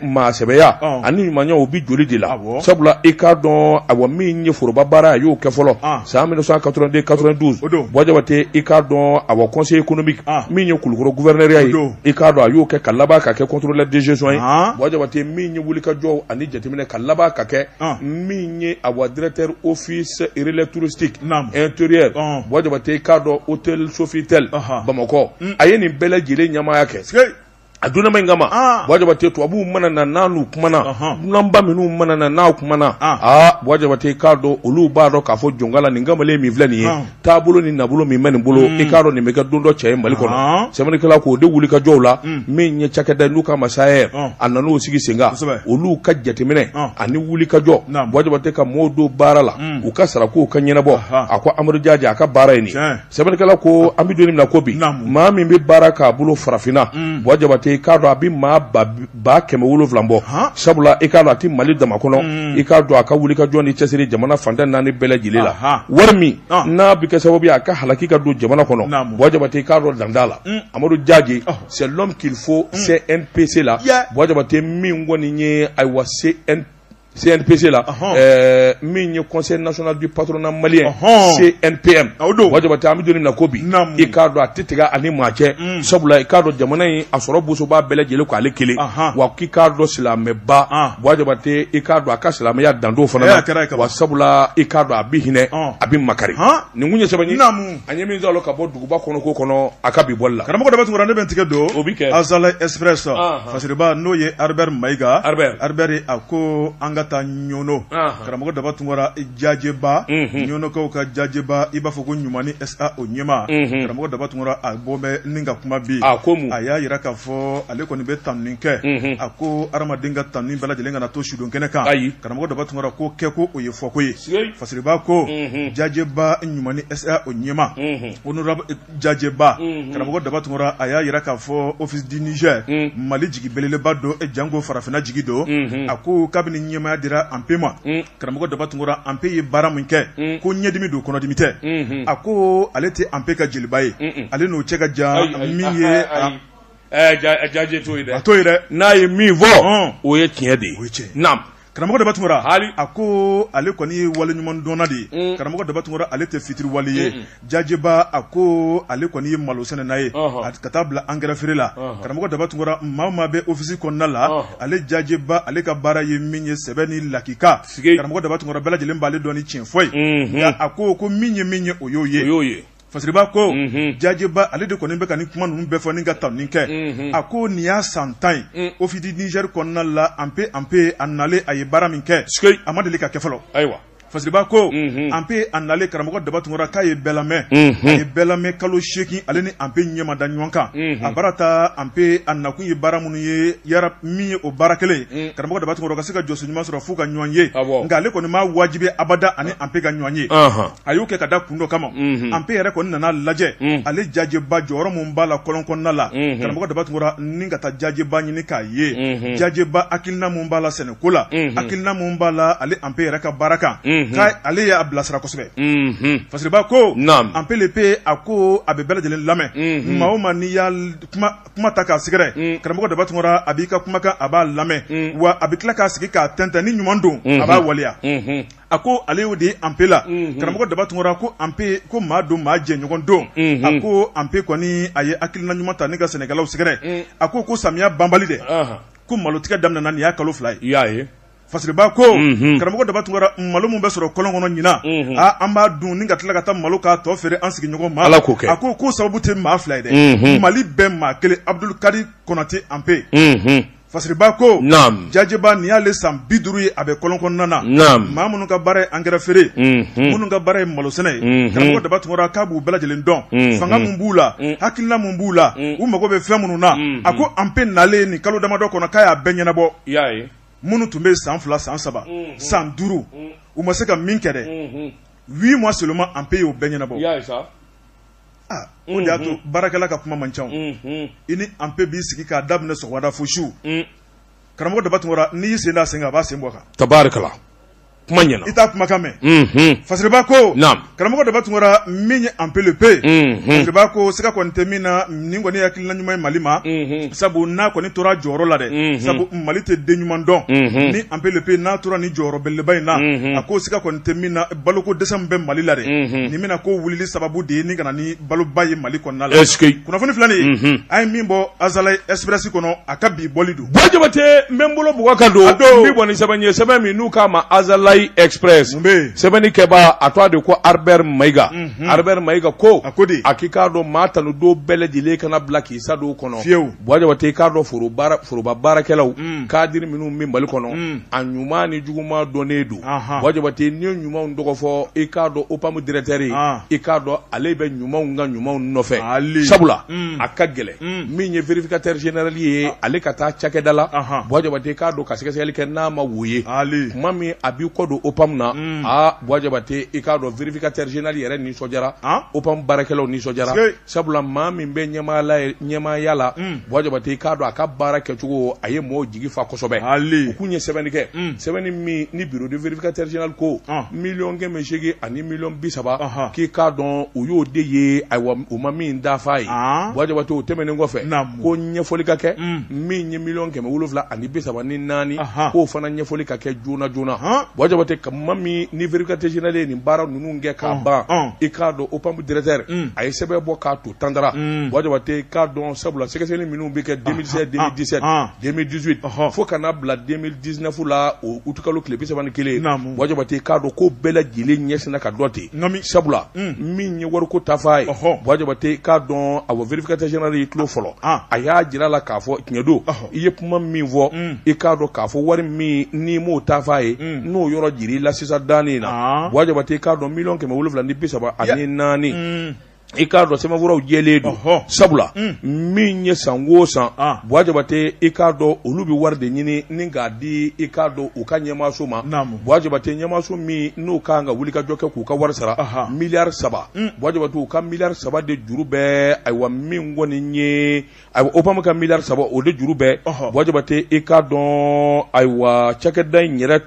maa sɛbɛya ani ɲumanya o bɛ joli de la sabula i k'a dɔn a wa min ye foroba baara a y'o kɛ fɔlɔ san mille neuf cent quatre-vingt-deux quatre-vingt-douze bɔjabate i k'a dɔn a wa conseiller économique min ye kulukɔrɔ gouverneurya ye i k'a dɔn a y'o kɛ ka laban ka kɛ contrôleur de gestion ye bɔjabate min ye wuli ka jɔ ani jateminɛ ka laban ka kɛ ɔn, min ye a wa directeur office relais touristique Naam. intérieur Ɔn. bɔjabate k'a dɔn hôtel Sofitel Ɔhɔ. Bamakɔ Mm. a ye nin bɛɛ lajɛlen ɲɛmaaya kɛ Sike. a donnama in kama Ah. bɔjabate tubabuw mana na n'u kumana Ɔhɔn. dunanba minnu mana na n'aw kumana Ah. aa bɔjabate k'a dɔn olu b'a dɔn k'a fɔ jɔn k'Ala nin kamalen min filɛ nin ye Ɔn. taabolo ni nabolo min bɛ nin bolo mm. i k'a dɔn nin bɛ kɛ don dɔ cɛ ye mali kɔnɔ sɛbɛnnikɛla k'o de wuli ka jɔw la mm. min ye cakɛda n'u k'a ma SAER a nan'o sigi sen kan olu ka jateminɛ ani wuli ka jɔ bɔjabate ka mɔɔw don baara la mm. u ka sarako ka ɲɛnabɔ a ko amadu jaje a ka baara ye nin sɛbɛnnikɛla ko an bɛ don min na ko bi maa min bɛ baara k'a bolo farafinna bɔjabate i k'a dɔn a bɛ maa ba kɛmɛ wolonwula bɔ sabula i k'a dɔn a tɛ mali dama kɔnɔ mm. i k'a dɔn a ka wuli ka jɔ ni cɛsiri jamana fan tan ni naani bɛɛ lajɛlen la wari min n'a bɛ kɛ sababu ye a ka halaki ka don jamana kɔnɔ bɔjabate i k'a dɔn dan t'a la mm. amadu jaje c'est l'homme qu'il faut mm. CNPC la bɔjabate min kɔni ye ayiwa se CNPC la ɛɛ min ye conseil national du patronat malien CNPM bɔjabate an bɛ don min na ko bi i k'a dɔn a tɛ tigɛ ani maa cɛ mm. sabula i k'a dɔn jamana in a sɔrɔ bosoba bɛɛ lajɛlen ko ale kelen wa k'i k'a dɔn silamɛba bɔjabate i k'a dɔn a ka silamɛya dan t'o fana na wa sabula i k'a dɔn a bɛ hinɛ a bɛ makari nin kun ye sɛbɛn ye an ye min sɔrɔ ka bɔ U ba kɔnɔ ko kɔnɔ a ka bi bɔli la karamɔgɔ daba tunkara ne bɛ n tigɛ don o bɛ Azalaï Express fasiriba n'o ye Albert mayiga Albert a ko an ka taa ɲɔnɔ karamɔgɔ daba tunkara jajɛba ɲɔnɔkaw ka jajɛba i b'a fɔ ko ɲumanni SA o ɲɛmaa karamɔgɔ daba tunkara a bɔ bɛ ni ka kuma bi a ko a y'a jira k'a fɔ ale kɔni bɛ tanuni kɛ a ko adamaden ka tanuni bɛɛ lajɛlen kana to sudon kɛnɛ kan ayi karamɔgɔ daba tunkara ko kɛko o ye fɔko ye Fasiriba ko jajɛba ɲumanni SA o ɲɛmaa honorable jajɛba karamɔgɔ daba tunkara a y'a jira k'a fɔ office du Niger mali jigi belebeleba don janko farafinna jigi don a ko kabini ɲɛmaaya dira anpe ma karamɔgɔ daba tunkara anpe ye baara min kɛ ko ɲɛdimi don kɔnɔdimi tɛ a ko ale tɛ anpe ka jeliba ye ale n'o cɛ ka jan min ye jajɛ to n'a ye min fɔ o ye tiɲɛ de ye Karamɔgɔ daba tunkara hali a ko ale kɔni ye wale ɲuman dɔnna de ye karamɔgɔ daba tunkara ale tɛ fitiri wale ye jajɛba a ko ale kɔni ye malo sɛnɛna ye ka taa bila engrais feere la karamɔgɔ daba tunkara maa o maa bɛ ofisi kɔnɔna la ale jajɛba ale ka baara ye min ye sɛbɛ ni lakika karamɔgɔ daba tunkara bɛɛ lajɛlen b'ale dɔn ni cɛn fɔ ye nka a ko ko min ye min ye o y'o ye Fasiriba ko jajɛba ale de kɔni bɛ ka nin kuma ninnu bɛɛ fɔ ni ka tanuni kɛ a ko nin y'a san tan ye office du Niger kɔnɔna la anpe anpe a nalen a ye baara min kɛ a ma deli ka kɛ fɔlɔ ayiwa fasiriba ko anpe a nalen karamɔgɔ daba tunkara k'a ye bɛɛ lamɛn a ye bɛɛ lamɛn kalo seegin ale ni anpe ɲɛ ma da ɲɔgɔn kan a baara taa anpe a nakun ye baara minnu ye min ye o baara kelen karamɔgɔ daba tunkara ka se ka jɔsen ɲuman sɔrɔ f'u ka ɲɔgɔn ye nka ale kɔni ma wajibi abada ani anpe ka ɲɔgɔn ye a y'o kɛ ka da kun dɔ kama mhm. anpe yɛrɛ kɔni nana lajɛ mhm. ale jaje ba jɔyɔrɔ min b'a la kɔlɔn kɔnɔna la mhm. karamɔgɔ daba tunkara ni ka taa jaje ba ɲini k'a ye jaje ba hakilina min b'a la sɛnɛko la hakilina min b'a la ale anpe yɛrɛ ka baara kan ka ale y'a bilasira kosɛbɛ fasiriba ko anpe le pe a ko a bɛ bɛɛ lajɛlen lamɛn maa o maa n'i y'a kuma ta k'a sɛgɛrɛ karamɔgɔ daba tunkara a b'i ka kumakan a b'a lamɛn wa a bɛ tila k'a sigi k'a tɛntɛn ni ɲuman don a b'a waleya a ko ale y'o de ye anpe la karamɔgɔ daba tunkara ko anpe ko maa don maa jɛɲɔgɔn don a ko anpe kɔni a ye hakilina ɲuman ta ni ka sɛnɛkɛlaw sɛgɛrɛ a ko ko samiya banbali dɛ ko malotigɛ daminɛna nin y'a kalo fila ye fasiriba ko karamɔgɔ daba tunkara malo min bɛ sɔrɔ kɔlɔn kɔnɔ ɲinan an b'a dun ni ka tila ka taa malo k'a tɔ feere an sigiɲɔgɔn ma a ko ko sababu tɛ maa fila ye dɛ mali bɛ maa kelen abudul karim konate anpe Fasiriba ko jaje ba nin y'ale san bi duuru ye a bɛ kɔlɔn kɔnɔna na maa minnu ka baara ye engrais feere minnu ka baara ye malo sɛnɛ ye karamɔgɔ daba tunkara k'a b'u bɛɛ lajɛlen dɔn fanga min b'u la hakilina min b'u la u mago bɛ fɛn minnu na a ko anpe nalen nin kalo damadɔ kɔnɔ k'a y'a bɛɛ ɲɛnabɔ minnu tun bɛ san fila san saba san duuru u ma se ka min kɛ dɛ huit mois seulement anpe y'o bɛɛ ɲɛnabɔ o de y'a to baarakɛla ka kuma man ca i ni anpe b'i sigi k'a daminɛ sɔgɔmada fo su karamɔgɔ daba tunkara n'i y'i sen d'a sen na a b'a sen bɔ kan tari kuma ɲɛna i t'a kumakan mɛn fasiriba ko karamɔgɔ daba tunkara min ye anpe le pe fasiriba ko siga kɔni tɛ min na nin kɔni hakilina ɲuman ye mali ma sabu n'a kɔni tora jɔyɔrɔ la dɛ sabu mali tɛ den ɲuman dɔn ni anpe le pe n'a tora ni jɔyɔrɔ belebeleba in na a ko siga kɔni tɛ min na balo ko dɛsɛ min bɛ Mali la dɛ, unhun, nin bɛna k'o wulili sababu de ye ni ka na ni baloba ye Mali kɔnɔna la, est-ce que kunnafoni filɛ nin ye, unhun, an ye min bɔ Azalaï Express kɔnɔ a ka bi bɔli don. Buwa Jabate n bɛ n bolo bugɔ ka don, a don, n bɛ bɔ ni sɛbɛn ye sɛbɛn min n'u k'a ma Azalaï Express, mun bɛ yen, sɛbɛnni kɛbaa a tɔgɔ de ko Arbert Mayiga, unhun, Arbert Mayiga ko, a ko di, a k'i k'a dɔn maa tanu don bɛɛ lajɛlen kana bila k'i sa don kɔnɔ, fiyew. Buwa jabate i k'a dɔn foroba baarakɛlaw kadiri minnu bɛ mali kɔnɔ a ɲuman ni juguman dɔnnen don buwa jabate ni ɲumanw tɔgɔ fɔ i k'a dɔn OPAM directeur ye i k'a dɔn ale bɛ ɲumanw ka ɲumanw nɔfɛ sabula a ka gɛlɛn min ye vérificateur général ye ale ka taa cakɛda la buwa jabate i k'a dɔn ka sɛgɛsɛgɛli kɛ n'a ma wo ye kuma min a b'i kɔ don OPAM na a buwa jabate i k'a dɔn vérificateur général yɛrɛ nisɔndiyara OPAM baarakɛlaw nisɔndiyara sabula maa min bɛ ɲɛmaaya la buwa jabate i k'a dɔn a ka baara kɛcogo a ye mɔgɔw jigi fa kosɛbɛ u kun ye sɛbɛnni kɛ sɛbɛnni min ni bureau de vérificateur général ko miliyɔn kɛmɛ segin ani miliyɔn bi saba k'i k'a dɔn u y'o de ye ayiwa u ma min dafa ye buwa jabate o tɛmɛnen kɔfɛ ko ɲɛfɔli ka kɛ min ye miliyɔn kɛmɛ wolonwula ani bi saba ni naani k'o fana ɲɛfɔli ka kɛ joona joona Buwa Jabate kuma min ni vérificateur général ye nin baara ninnu kɛ k'a ban i k'a dɔn OPAM directeur a ye sɛbɛn bɔ k'a to tandara Buwa Jabate k'a dɔn sabula sɛgɛsɛgɛli minnu bɛ kɛ deux mille seize deux mille dix-sept deux mille dix-huit fo ka n'a bila deux mille dix-neuf la o utikalo tile bi saba ni kelen Buwa Jabate k'a dɔn k'o bɛɛ lajɛlen ɲɛsinina k'a dɔn ten Naamu sabula unn min ye wari ko taafan ye ɔhɔɔ Buwa Jabate k'a dɔn awɔ vérificateur général y'i tulo fɔlɔ an a y'a jir'a la k'a fɔ tiɲɛ don ɔhɔ i ye kuma min fɔ unn i k'a dɔn k'a fɔ wari min n'i m'o taafan ye unn n'o yɔrɔ jir'i la sisan daani in na aa Buwa Jabate k'a dɔn million kɛmɛ wolonwula ni bi saba ani naani unnn i k'a dɔn sɛbɛnfuraw jɛlen don Ɔhɔ. sabula Mm. min ye san o san Ah. buwa jabate i k'a dɔn olu bɛ wari de ɲini ni k'a di i k'a dɔn u ka ɲɛmaaso ma Naamu. buwa jabate ɲɛmaaso min n'u ka kan ka wulikajɔ kɛ k'u ka wari sara Aha. miliyari saba Mm. buwa jabate u ka miliyari saba de juru bɛɛ ayiwa min kɔni ye Ayiwa OPAM ka miliyari saba o de juru bɛ Buwa Jabate i k'a dɔn ayiwa cakɛda in yɛrɛ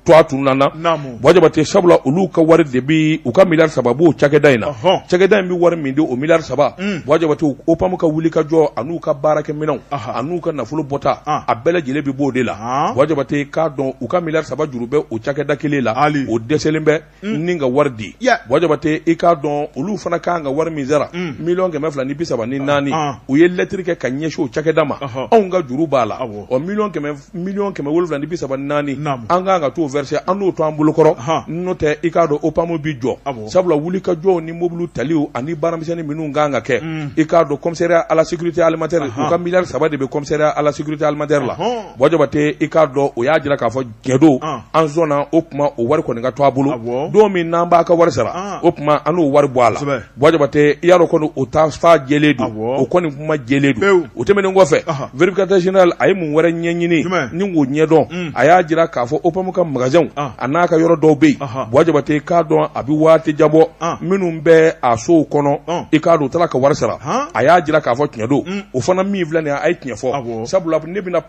tɔgɔ tununna n na Buwa Jabate sabula olu ka wari de bɛ u ka miliyari saba b'o cakɛda in na cakɛda in bɛ wari min di o miliyari saba Buwa Jabate OPAM ka wulikajɔ ani'u ka baarakɛminɛnw ani'u ka nafolo bɔta a bɛɛ lajɛlen bɛ bɔ o de la Buwa Jabate i k'a dɔn u ka miliyari saba juru bɛ o cakɛda kelen la o dɛsɛlen bɛ Mm. ni ka wari di Buwa Jabate i k'a dɔn olu fana ka kan ka wari min sara mm. miliyɔn kɛmɛ fila ni bi saba ni ah, naani ah. u ye lɛtiri kɛ ka ɲɛsin o cakɛda ma anw ka juru b'a la o miliyɔn kɛmɛ miliyɔn kɛmɛ wolonwula ni bi saba ni naani an ka kan ka t'o verser an n'o to an bolokɔrɔ n'o tɛ i k'a dɔn OPAM bi jɔ sabula wulikajɔw ni mobiliw taliw ani baaramisɛnnin minnu ka kan ka kɛ mm. i k'a dɔn commissariat à la sécurité alimentaire u ka miliyari saba de bɛ commissariat à la sécurité alimentaire la Buwa Jabate i k'a dɔn o y'a jira k'a fɔ Tiɲɛ don an sɔnna o tuma o wari kɔni ka to a bolo don min n'an b'a ka wari sara o tuma an n'o wari bɔ a la Buwa Jabate i y'a dɔn kɔni o taafan jɛlen don o kɔni kuma jɛlen don o tɛmɛnen kɔfɛ vérificateur général a ye mun wɛrɛ ɲɛɲini ni k'o ɲɛdɔn a y'a jira k'a fɔ OPAM ka magasinw a n'a ka yɔrɔ dɔw bɛ yen Buwa Jabate k'a dɔn a bɛ waati jabɔ minnu bɛ a sow kɔnɔ i k'a dɔn u taara ka wari sara a y'a jira k'a fɔ tiɲɛ don o fana min filɛ nin a ye tiɲɛ fɔ sabula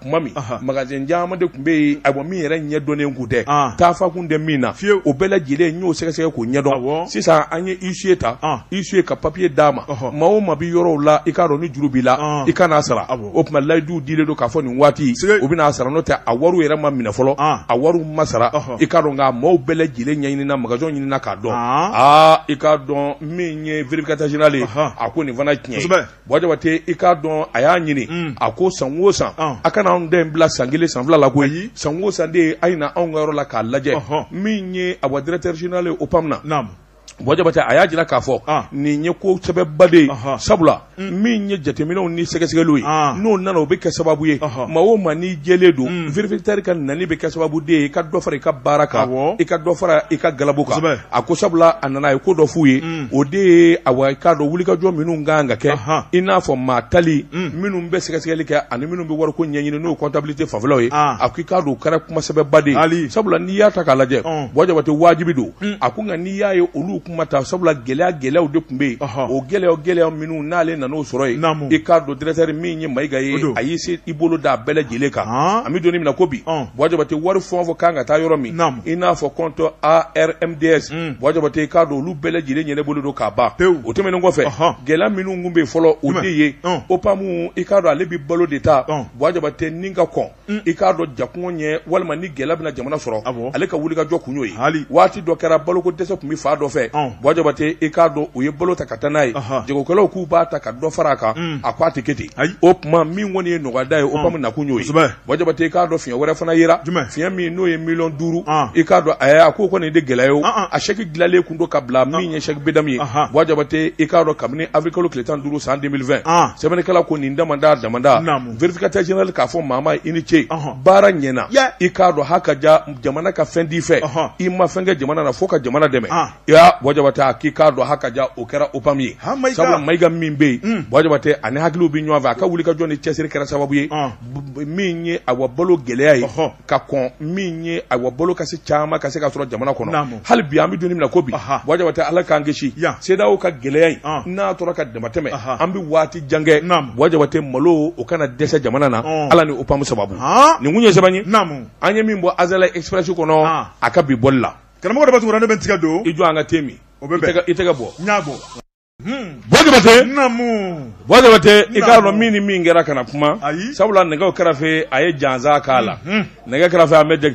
tuma min magasin caman de tun bɛ yen a min yɛrɛ ɲɛ dɔnnen kun tɛ taafan kun tɛ min na fiyewu o bɛɛ lajɛlen n y'o sɛgɛsɛgɛ k'o ɲɛdɔn sisan an ye huissier ta huissier ka papier d'a ma maa o maa bɛ yɔrɔw la i k'a dɔn ni juru b'i la i ka n'a sara o tuma layiduw dilen don k'a fɔ nin waati u bɛn'a sara n'o tɛ a wariw yɛrɛ ma minɛ fɔlɔ a wariw ma sara i k'a dɔn nka maaw bɛɛ lajɛlen ɲɛɲinina magasin ɲinina k'a dɔn aa i k'a dɔn min ye vérificateur général ye a ko nin fana ye tiɲɛ ye. Buwa Jabate i k'a dɔn a y'a ɲini, un, a ko san o san, ɔn, a kana anw den in bila san kelen san fila la koyi, ayi, san o san de a ye na anw ka yɔrɔ la k'a lajɛ, ɔhɔ, min ye awa directeur général ye OPAM na, naamu, Buwa Jabate a y'a jira k'a fɔ, an, nin ye ko sɛbɛba de ye, ɔhɔ, sabula, un, min ye jateminɛw ni sɛgɛsɛgɛliw ye, an, n'o nana o bɛ kɛ sababu ye, ɔhɔ, maa o maa n'i jɛlen don, un, vérificateur ka nali bɛ kɛ sababu de ye i ka dɔ fara i ka baara kan, awɔ, i ka dɔ fara i ka galabu kan, kosɛbɛ. a ko sabula a nana a ye ko dɔ f'u ye mm. o de ye awa i k'a dɔn wulikajɔ minnu ka kan ka kɛ i n'a fɔ maa tali mm. minnu bɛ sɛgɛsɛgɛli kɛ ani minnu bɛ wariko ɲɛɲini n'o comptabilité fanfɛlaw ye ah. a ko i k'a dɔn o kɛra kumasɛbɛba de ye sabula n'i y'a ta k'a lajɛ Buwa Jabate wajibi don mm. a ko nka n'i y'a ye olu kuma ta sabula gɛlɛya gɛlɛyaw de tun bɛ yen o gɛlɛya gɛlɛya minnu n'ale nan'o sɔrɔ yen i k'a dɔn directeur min ye Mayiga ye a y'i se i bolo d'a bɛɛ lajɛlen kan an bɛ don min na ko bi Buwa Jabate wari fɛn o fɛn kan ka taa yɔrɔ min i n'a fɔ compte ARMDS Buwa Jabate i k'a dɔn olu bɛɛ lajɛlen ɲɛnabɔlen don ka ban o tɛmɛnen kɔfɛ gɛlɛya minnu kun bɛ yen fɔlɔ o de ye OPAM i k'a don ale bɛ balo de ta Buwa Jabate ni ka kɔn i k'a dɔn ja kun ɲɛ walima ni gɛlɛya bɛna jamana sɔrɔ a ale ka wulikajɔ kun y'o ye waati dɔ kɛra baloko dɛsɛ tun bɛ fan dɔ fɛ Buwa Jabate i k'a dɔn u ye balo ta ka taa n'a ye jagokɛlaw kun b'a ta ka dɔ fara a kan a k'a tɛ kɛ ten o tuma min kɔni ye nɔgɔyada ye OPAM nakun y'o Buwa Jabate i k'a dɔn fiɲɛ wɛrɛ fana yera jumɛn fiɲɛ min n'o ye million duuru i k'a dɔn a a k'o kɔni de gɛlɛya ye a chèque dilanlen kun don ka bila min ye chèque BDM ye Buwa Jabate i k'a dɔn kabini avril kalo tile tan duuru san deux mille vingt sɛbɛnnikɛla ko nin da da damada vérificateur général k'a fɔ maa ma i ni ce baara ɲɛna i k'a dɔn ha ka ja jamana ka fɛn di fɛ i ma fɛn kɛ jamana na fo ka jamana dɛmɛ ya Buwa Jabate a k'i k'a dɔn haka ja o kɛra OPAM ye sabula Mayiga min bɛ yen hmm. Buwa Jabate ani hakiliw bɛ ɲɔgɔn fɛ a ka wulikajɔ ni cɛsiri kɛra sababu ye ah. min ye a wa balo gɛlɛya ye ka kɔn min ye a wa balo ka se caman ka se ka sɔrɔ jamana kɔnɔ hali bi an bɛ don min na ko bi Buwa Jabate Ala k'an kisi CEDEAO ka gɛlɛya in ah. n'a tora ka damatɛmɛ an bɛ waati jan kɛ Buwa Jabate malo o kana dɛsɛ jamana na ah. ala ni OPAM sababu nin kun ye sɛbɛn ye an ye min bɔ Azalaï Express kɔnɔ a ka bi bɔli la Karamɔgɔ Daba Tunkara ne bɛ tigɛ don i jɔ an ka te min o bɛ i tɛgɛ bɔ n y'a bɔ Buwa Jabate i k'a dɔn min ni min kɛra kana kuma sabula nɛgɛ kɛrɛfɛ a ye jansa k'a la nɛgɛ kɛrɛfɛ an bɛ dɛ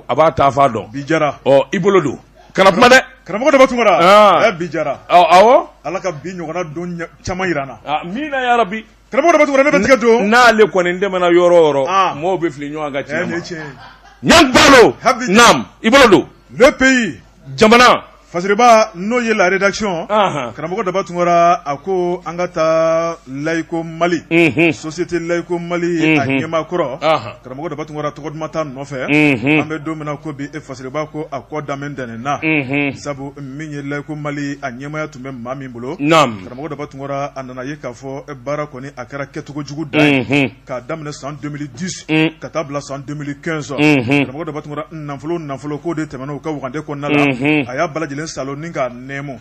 a b'a taa faa dɔn bi jara i bolo don kana kuma dɛ karamɔgɔ Daba Tunkara bi jara ala ka bi ɲɔgɔn don caman jira an na amiina yarabi Karamɔgɔ Daba Tunkara ne bɛ tigɛ don. N'ale kɔni dɛmɛna yɔrɔ o yɔrɔ. Aa. Mɔɔw bɛ fili ɲɔgɔn ka tiɲɛ ma. Ɛ nin ye tiɲɛ ye. Ɲan Balo. Habi. Naam, i bolo don. Le pays. Jamana. Fasiriba n'o ye la rédaction. Anhan. Karamɔgɔ Daba Tunkara a ko an ka taa Laico Mali. Unhun. Société Laico Mali a Unhun. ɲɛmaa kɔrɔ. Anhan. Karamɔgɔ Daba Tunkara tɔgɔ duman t'a nɔfɛ. Unhun. An bɛ don min na ko bi e Fasiriba ko a kɔ danbe ntɛnɛn na. Unhun. Sabu min ye Laico Mali a ɲɛmaaya tun bɛ maa min bolo. Naam. Karamɔgɔ Daba Tunkara a nana ye k'a fɔ baara kɔni a kɛra kɛcogo jugu dan ye k'a daminɛ san 2010 ka taa bila san 2015 karamɔgɔ Daba Tunkara nafolo o nafolo k'o de tɛmɛna u ka wagande kɔnɔna la a y'a bɛɛ lajɛlen saalo ni k'a nɛmu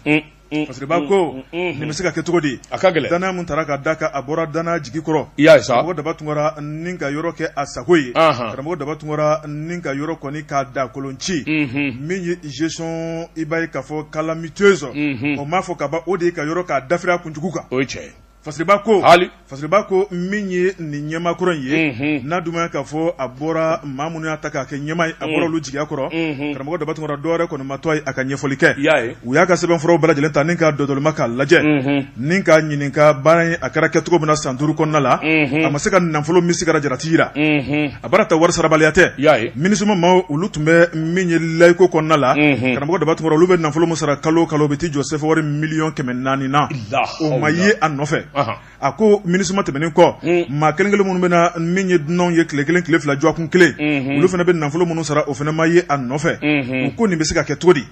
fasiriba ko nin bɛ se ka kɛ cogo di a ka gɛlɛn dannaya min taara ka da kan a bɔra dannaya jigi kɔrɔ i y'a ye karamɔgɔ Daba Tunkara ni ka yɔrɔ kɛ a sago ye karamɔgɔ Daba Tunkara ni ka yɔrɔ kɔni k'a da kolon ci min Gestion i b'a ye k'a fɔ calamiteuse unhun, o m'a fɔ ka ban o de ye ka yɔrɔ k'a dafiri a kunjugu kan, o ye tiɲɛ ye, Fasiriba ko, haali, Fasiriba ko min ye nin ɲɛmaakɔrɔ in ye, unhun, n'a dun ma ɲɛ k'a fɔ a bɔra maa minnu y'a ta k'a kɛ ɲɛmaa ye a bɔra olu jigiya kɔrɔ, unhun, karamɔgɔ Daba Tunkara dɔwɛrɛ kɔni ma to a ye a ka ɲɛfɔli kɛ, i y'a ye, u y'a ka sɛbɛnfuraw bɛɛ lajɛlen ta ni ka dɔdɔlima k'a lajɛ, unhun, ni ka ɲininka baara in a kɛra kɛcogo min na san duuru kɔnɔna la, unhun, a ma se ka nafolo min sigara jalati jira, unhun. a baara ta wari sarabaliya tɛ i y'a ye MINUSMA maaw olu tun bɛ min ye layiko kɔnɔna la mhm. karamɔgɔ Daba Tunkara olu bɛ nafolo min sara kalo kalo bɛ t'i jɔ sɛfawari miliyɔn kɛmɛ naani na o ma ye a nɔfɛ a ko MINUSMA tɛmɛnen kɔ mm. maa kelen kelen minnu bɛ na min ye dunanw ye tile kelen tile fila dɔgɔkun kelen mhm. olu fana bɛ nafolo minnu sara o fana ma ye a nɔfɛ mhm. u ko nin bɛ se ka kɛ cogo di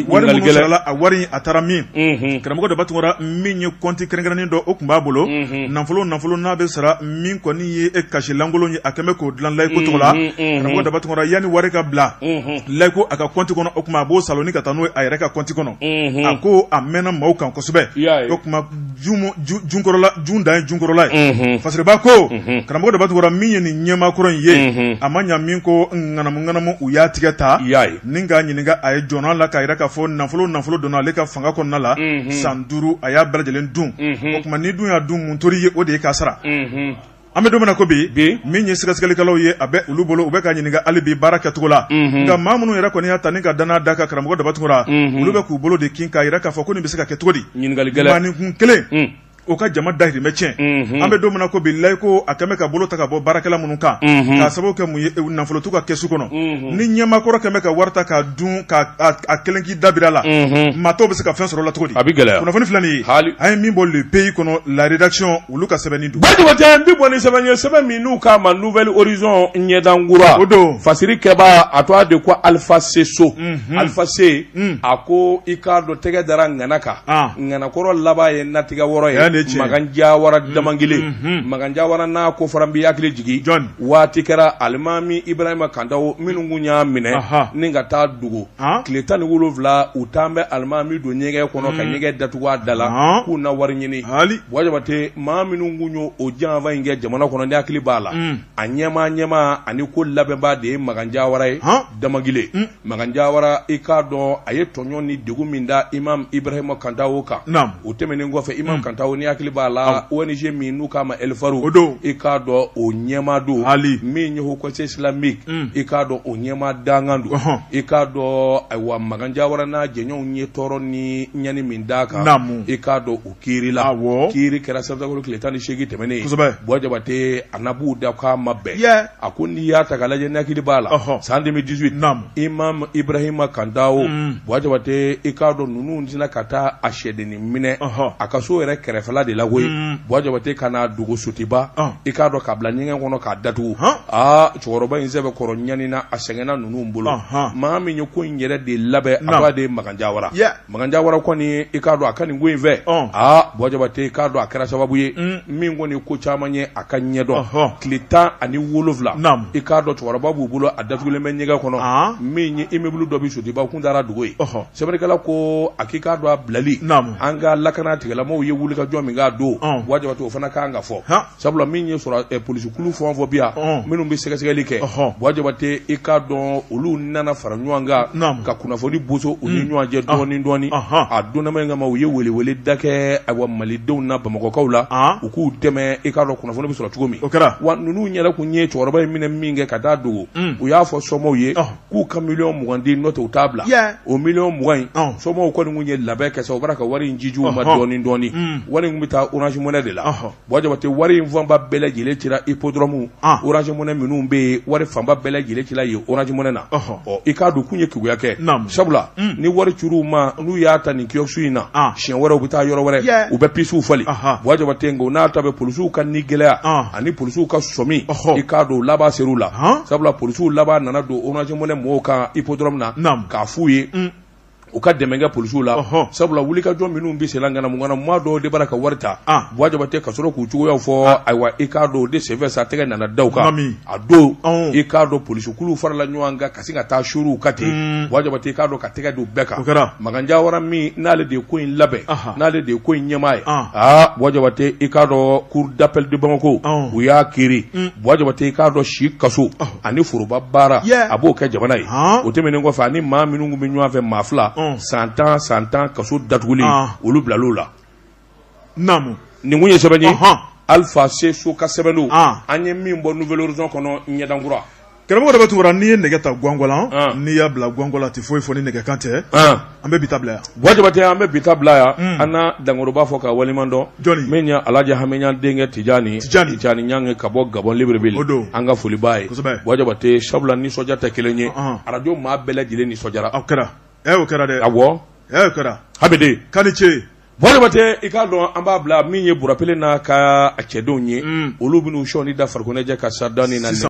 Wari minnu sarala, a wari a taara min, unhun, karamɔgɔ Daba Tunkara min ye compte kɛrɛnkɛrɛnnen dɔ o tun b'a bolo, unhun, nafolo o nafolo n'a bɛ sara min kɔni ye cachet lankolon ye a kɛlen bɛ k'o dilan layiko tɔgɔ la, unhun, unhun, karamɔgɔ Daba Tunkara yanni wari ka bila, unhun, layiko a ka compte kɔnɔ o tuma a b'o saalo ni ka taa n'o ye a yɛrɛ ka compte kɔnɔ, unhun, a ko a mɛnna maaw kan kosɛbɛ, i y'a ye, o tuma junkɔrɔla jun dan ye junkɔrɔla ye unhun fasiriba ko unhun karamɔgɔ Daba Tunkara min ye nin ɲɛmaakɔrɔ in ye unhun a ma ɲa min koo ŋanamu ŋanamu u y'a tigi ta i y'a ye ni k'a ɲininka a ye jɔn a la k'a yira k'a fɔ nafolo o nafolo donna ale ka fanga kɔnɔna la unhun san 5 a y'a bɛɛ lajɛlen dun unhun o tuma n'i dun y'a dun mun tor'i ye o de ye k'a sara unhun An bɛ don min na ko bi min ye sɛgɛsɛgɛlikɛlaw ye a bɛ olu bolo u bɛ ka ɲininka hali bi baara kɛcogo la nka maa minnu yɛrɛ kɔni y'a ta ni ka dannaya da kan karamɔgɔ Daba Tunkara olu bɛ k'u bolo de kin k'a jira k'a fɔ ko nin bɛ se ka kɛ cogo di maaninkun kelen o ka jama dahirimɛ tiɲɛ an bɛ don min na ko bi layiko a kɛmɛ ka bolo ta ka bɔ baarakɛla minnu kan k'a sababu kɛ mun ye nafolo t'u ka kɛsu kɔnɔ ni ɲɛmakɔrɔ kɛmɛ ka wari ta k'a dun k'a kelen k'i dabiri a la maa tɔw bɛ se ka fɛn sɔrɔ a la cogo di a bɛ gɛlɛya kunnafoni filɛ nin ye an ye min bɔ Le Pays kɔnɔ la rédaction olu ka sɛbɛnni don Buwa Jabatɛ n bɛ bɔ ni sɛbɛn ye sɛbɛn min n'u k'a ma Nouvel Horizon ɲɛdankura o don fasirikɛbaa a tɔgɔ de ko alifa se so mhm. alifa se mm. a ko i k'a dɔn tɛgɛ dara ŋana kan ah. ŋanakɔrɔ laban ye natigɛ wɔrɔ ye magan jawara mm. damangile mhm. magan jawara n'a ko fara n b'i hakili jigin waati kɛra alimami ibrahima kantawo minnu kun y'a minɛ ni ka taa dogo tile tan ni wolowula u taalen bɛ alimami don ɲɛgɛn kɔnɔ ka ɲɛgɛn datugu a da la k'u na wari ɲini haali Buwa Jabatɛ maa minnu tun ye o janfa in kɛ jamana kɔnɔ n'i hakili b'a la a ɲɛmaa ɲɛmaa ani ko labɛnbaa de ye magan jawara ye damangile magan jawara i k'a dɔn a ye tɔɲɔ ni degun min da imamu ibrahima kantawo kan o tɛmɛnen kɔfɛ Imam hmm. Kantawo n'i hakili b'a la ONG min n'u k'a ma Elfaru o don i k'a dɔn o ɲɛmaa don hali min ye Haut Conseil islamique hmm. i k'a dɔn o ɲɛmaa dankan don i k'a dɔn ayiwa Magan Jawara n'a jɛɲɔgɔnw ye tɔɔrɔ ni ɲani min d'a kan naamu i k'a dɔn o kiiri la awɔ kiiri kɛra septembre tile tan ni seegin tɛmɛnen kosɛbɛ Buwa Jabate a n'a b'u da k'a ma bɛn A ko n'i y'a ta k'a lajɛ n'i hakili b'a la, ɔhɔ, san 2018, naamu, Imam Ibrahima Kantawo, un, Buwa Jabate i k'a dɔn ninnu sinna ka taa a sɛdennin minɛ, ɔhɔ, a ka so yɛrɛ kɛrɛfɛla de la koyi, un, Buwa Jabate ka n'a dogo Sotiba, ɔn, i k'a dɔn k'a bila ɲɛgɛn kɔnɔ k'a datugu, han, aa cɛkɔrɔba in sɛbɛkɔrɔ ɲanina a sɛgɛnna ninnu bolo, ɔnhɔn, maa min ye ko in yɛrɛ de labɛn, naamu, a tɔgɔ de ye Makan Jawara, yɛ Makan Jawara kɔni i k'a dɔn a ka nin ko in fɛ, ɔn, aa Buwa Jabate i k'a dɔn a kɛra sababu ye, un, min kɔni ko caman ye a ka ɲɛdɔn, ɔhɔ, tile 17, naamu, i k'a dɔn cɛkɔrɔba b'u bolo a datugulen bɛ ɲɛgɛn kɔnɔ, an, min ye immeuble dɔ bɛ Sotiba kun taar'a dogo yen, ɔhɔ, sɛbɛnnikɛla ko a k'i k'a dɔn a bilali, naamu, an ka lakana tigilamɔgɔw ye wulikajɔ min kɛ a don, ɔn, Buwa Jabate o fana ka kan ka fɔ, han sabula min ye sɔrɔ eh, polisikulu fɛn o fɛn bi yan minnu bɛ sɛgɛsɛgɛli kɛ Buwa Jabate i k'a dɔn olu nana fara ɲɔgɔn kan ka kunnafoni boso u ni mm. ɲɔgɔn cɛ dɔɔni dɔɔni a donnama in kama u ye weleweleda kɛ ayiwa malidenw ni Bamakɔkaw la u k'u dɛmɛ i k'a dɔn kunnafoni bɛ sɔrɔ cogo min wa ninnu yɛrɛ tun ye cɛkɔrɔba in minɛ minkɛ ka taa a dogo mm. u y'a fɔ somɔgɔw ye k'u ka miliyɔn mugan di n'o tɛ u t'a bila o miliyɔn mugan in somɔgɔw kɔni tun ye labɛn kɛ sa u b'a ka wari in cici u ma dɔɔni dɔɔni mm. wari in bɛ taa Orange Money de la Buwa Jabate wari in fanba bɛɛ lajɛlen cira Hippodrome Orange Money minnu bɛ yen wari fanba bɛɛ lajɛlen cira yen Orange Money na ɔ i k'a dɔn u tun ye keguya kɛ sabula ni wari cir'u ma n'u y'a ta nin kiosque in na siɲɛ wɛrɛ u bɛ taa yɔrɔ wɛrɛ u bɛ pisiw falen Buwa Jabate nk'o n'a ta bɛɛ polisiw ka nigɛlɛya ani polisiw ka sɔmi i k'a dɔn laban ser'u la sabula polisiw laban nana don Orange Money mɔgɔw kan Hippodrome na k'a f'u ye u ka dɛmɛ kɛ polisiw la Ɔhɔn. sabula wulikajɔ minnu bɛ sen na ŋanamuŋanamu maa dɔw de b'a la ka wari ta Ah. Buwa Jabate ka sɔrɔ k'u cogoyaw fɔ ayiwa i k'a dɔn o de senfɛ sa tɛgɛ nana da u kan Naamu. a don Ɔn. i k'a dɔn polisikuluw farala ɲɔgɔn kan ka sin ka taa suuru u kan ten Mm. Buwa Jabate i k'a dɔn ka tɛgɛ d'u bɛɛ kan O kɛra. Magan Jawara min n'ale de ye ko in labɛn Aha. n'ale de ye ko in ɲɛmaa ye Ah. aa Buwa Jabate i k'a dɔn cour d'appel de Bamako Ɔn. u y'a kiiri Mm. Buwa Jabate i k'a dɔn si kaso ani foroba baara a b'o kɛ jamana ye o tɛmɛnen kɔfɛ ani maa minnu tun bɛ ɲɔgɔn fɛ maa fila san tan san tan kaso datuguli olu bilal'o la nin tun ye sɛbɛn ye Alpha C. Sow ka sɛbɛn an ye min bɔ Nouvel Horizon kɔnɔ ɲɛdankura karamɔgɔ de bɛ tugura n'i ye nɛgɛ ta gawala n'i y'a bila gawala tɛ foyi fɔ ni nɛgɛkan tɛ an bɛ bi ta bila yan Buwa Jabate an bɛ bi ta bila yan unn an na dankɔrɔba fo k'a waleɲuman dɔn jɔni min ye Alaji Hamiɲan denkɛ Tijani Tijani Tijani Ɲange ka bɔ Gabɔn Libreville o don an ka foli b'a ye kosɛbɛ Buwa Jabate sabula nisɔndiya tɛ kelen ye ɔnhɔn Radio maa bɛɛ lajɛlen nisɔndiyara o kɛra ee o kɛra dɛ awɔ ee o kɛra Hamidi k'a ni ce Buwa Jabate i k'a dɔn an b'a bila min ye Burapele n'a ka a cɛdenw ye unn olu bɛn'u sɔnin da farikoloɲɛnajɛ ka Saridani na sisan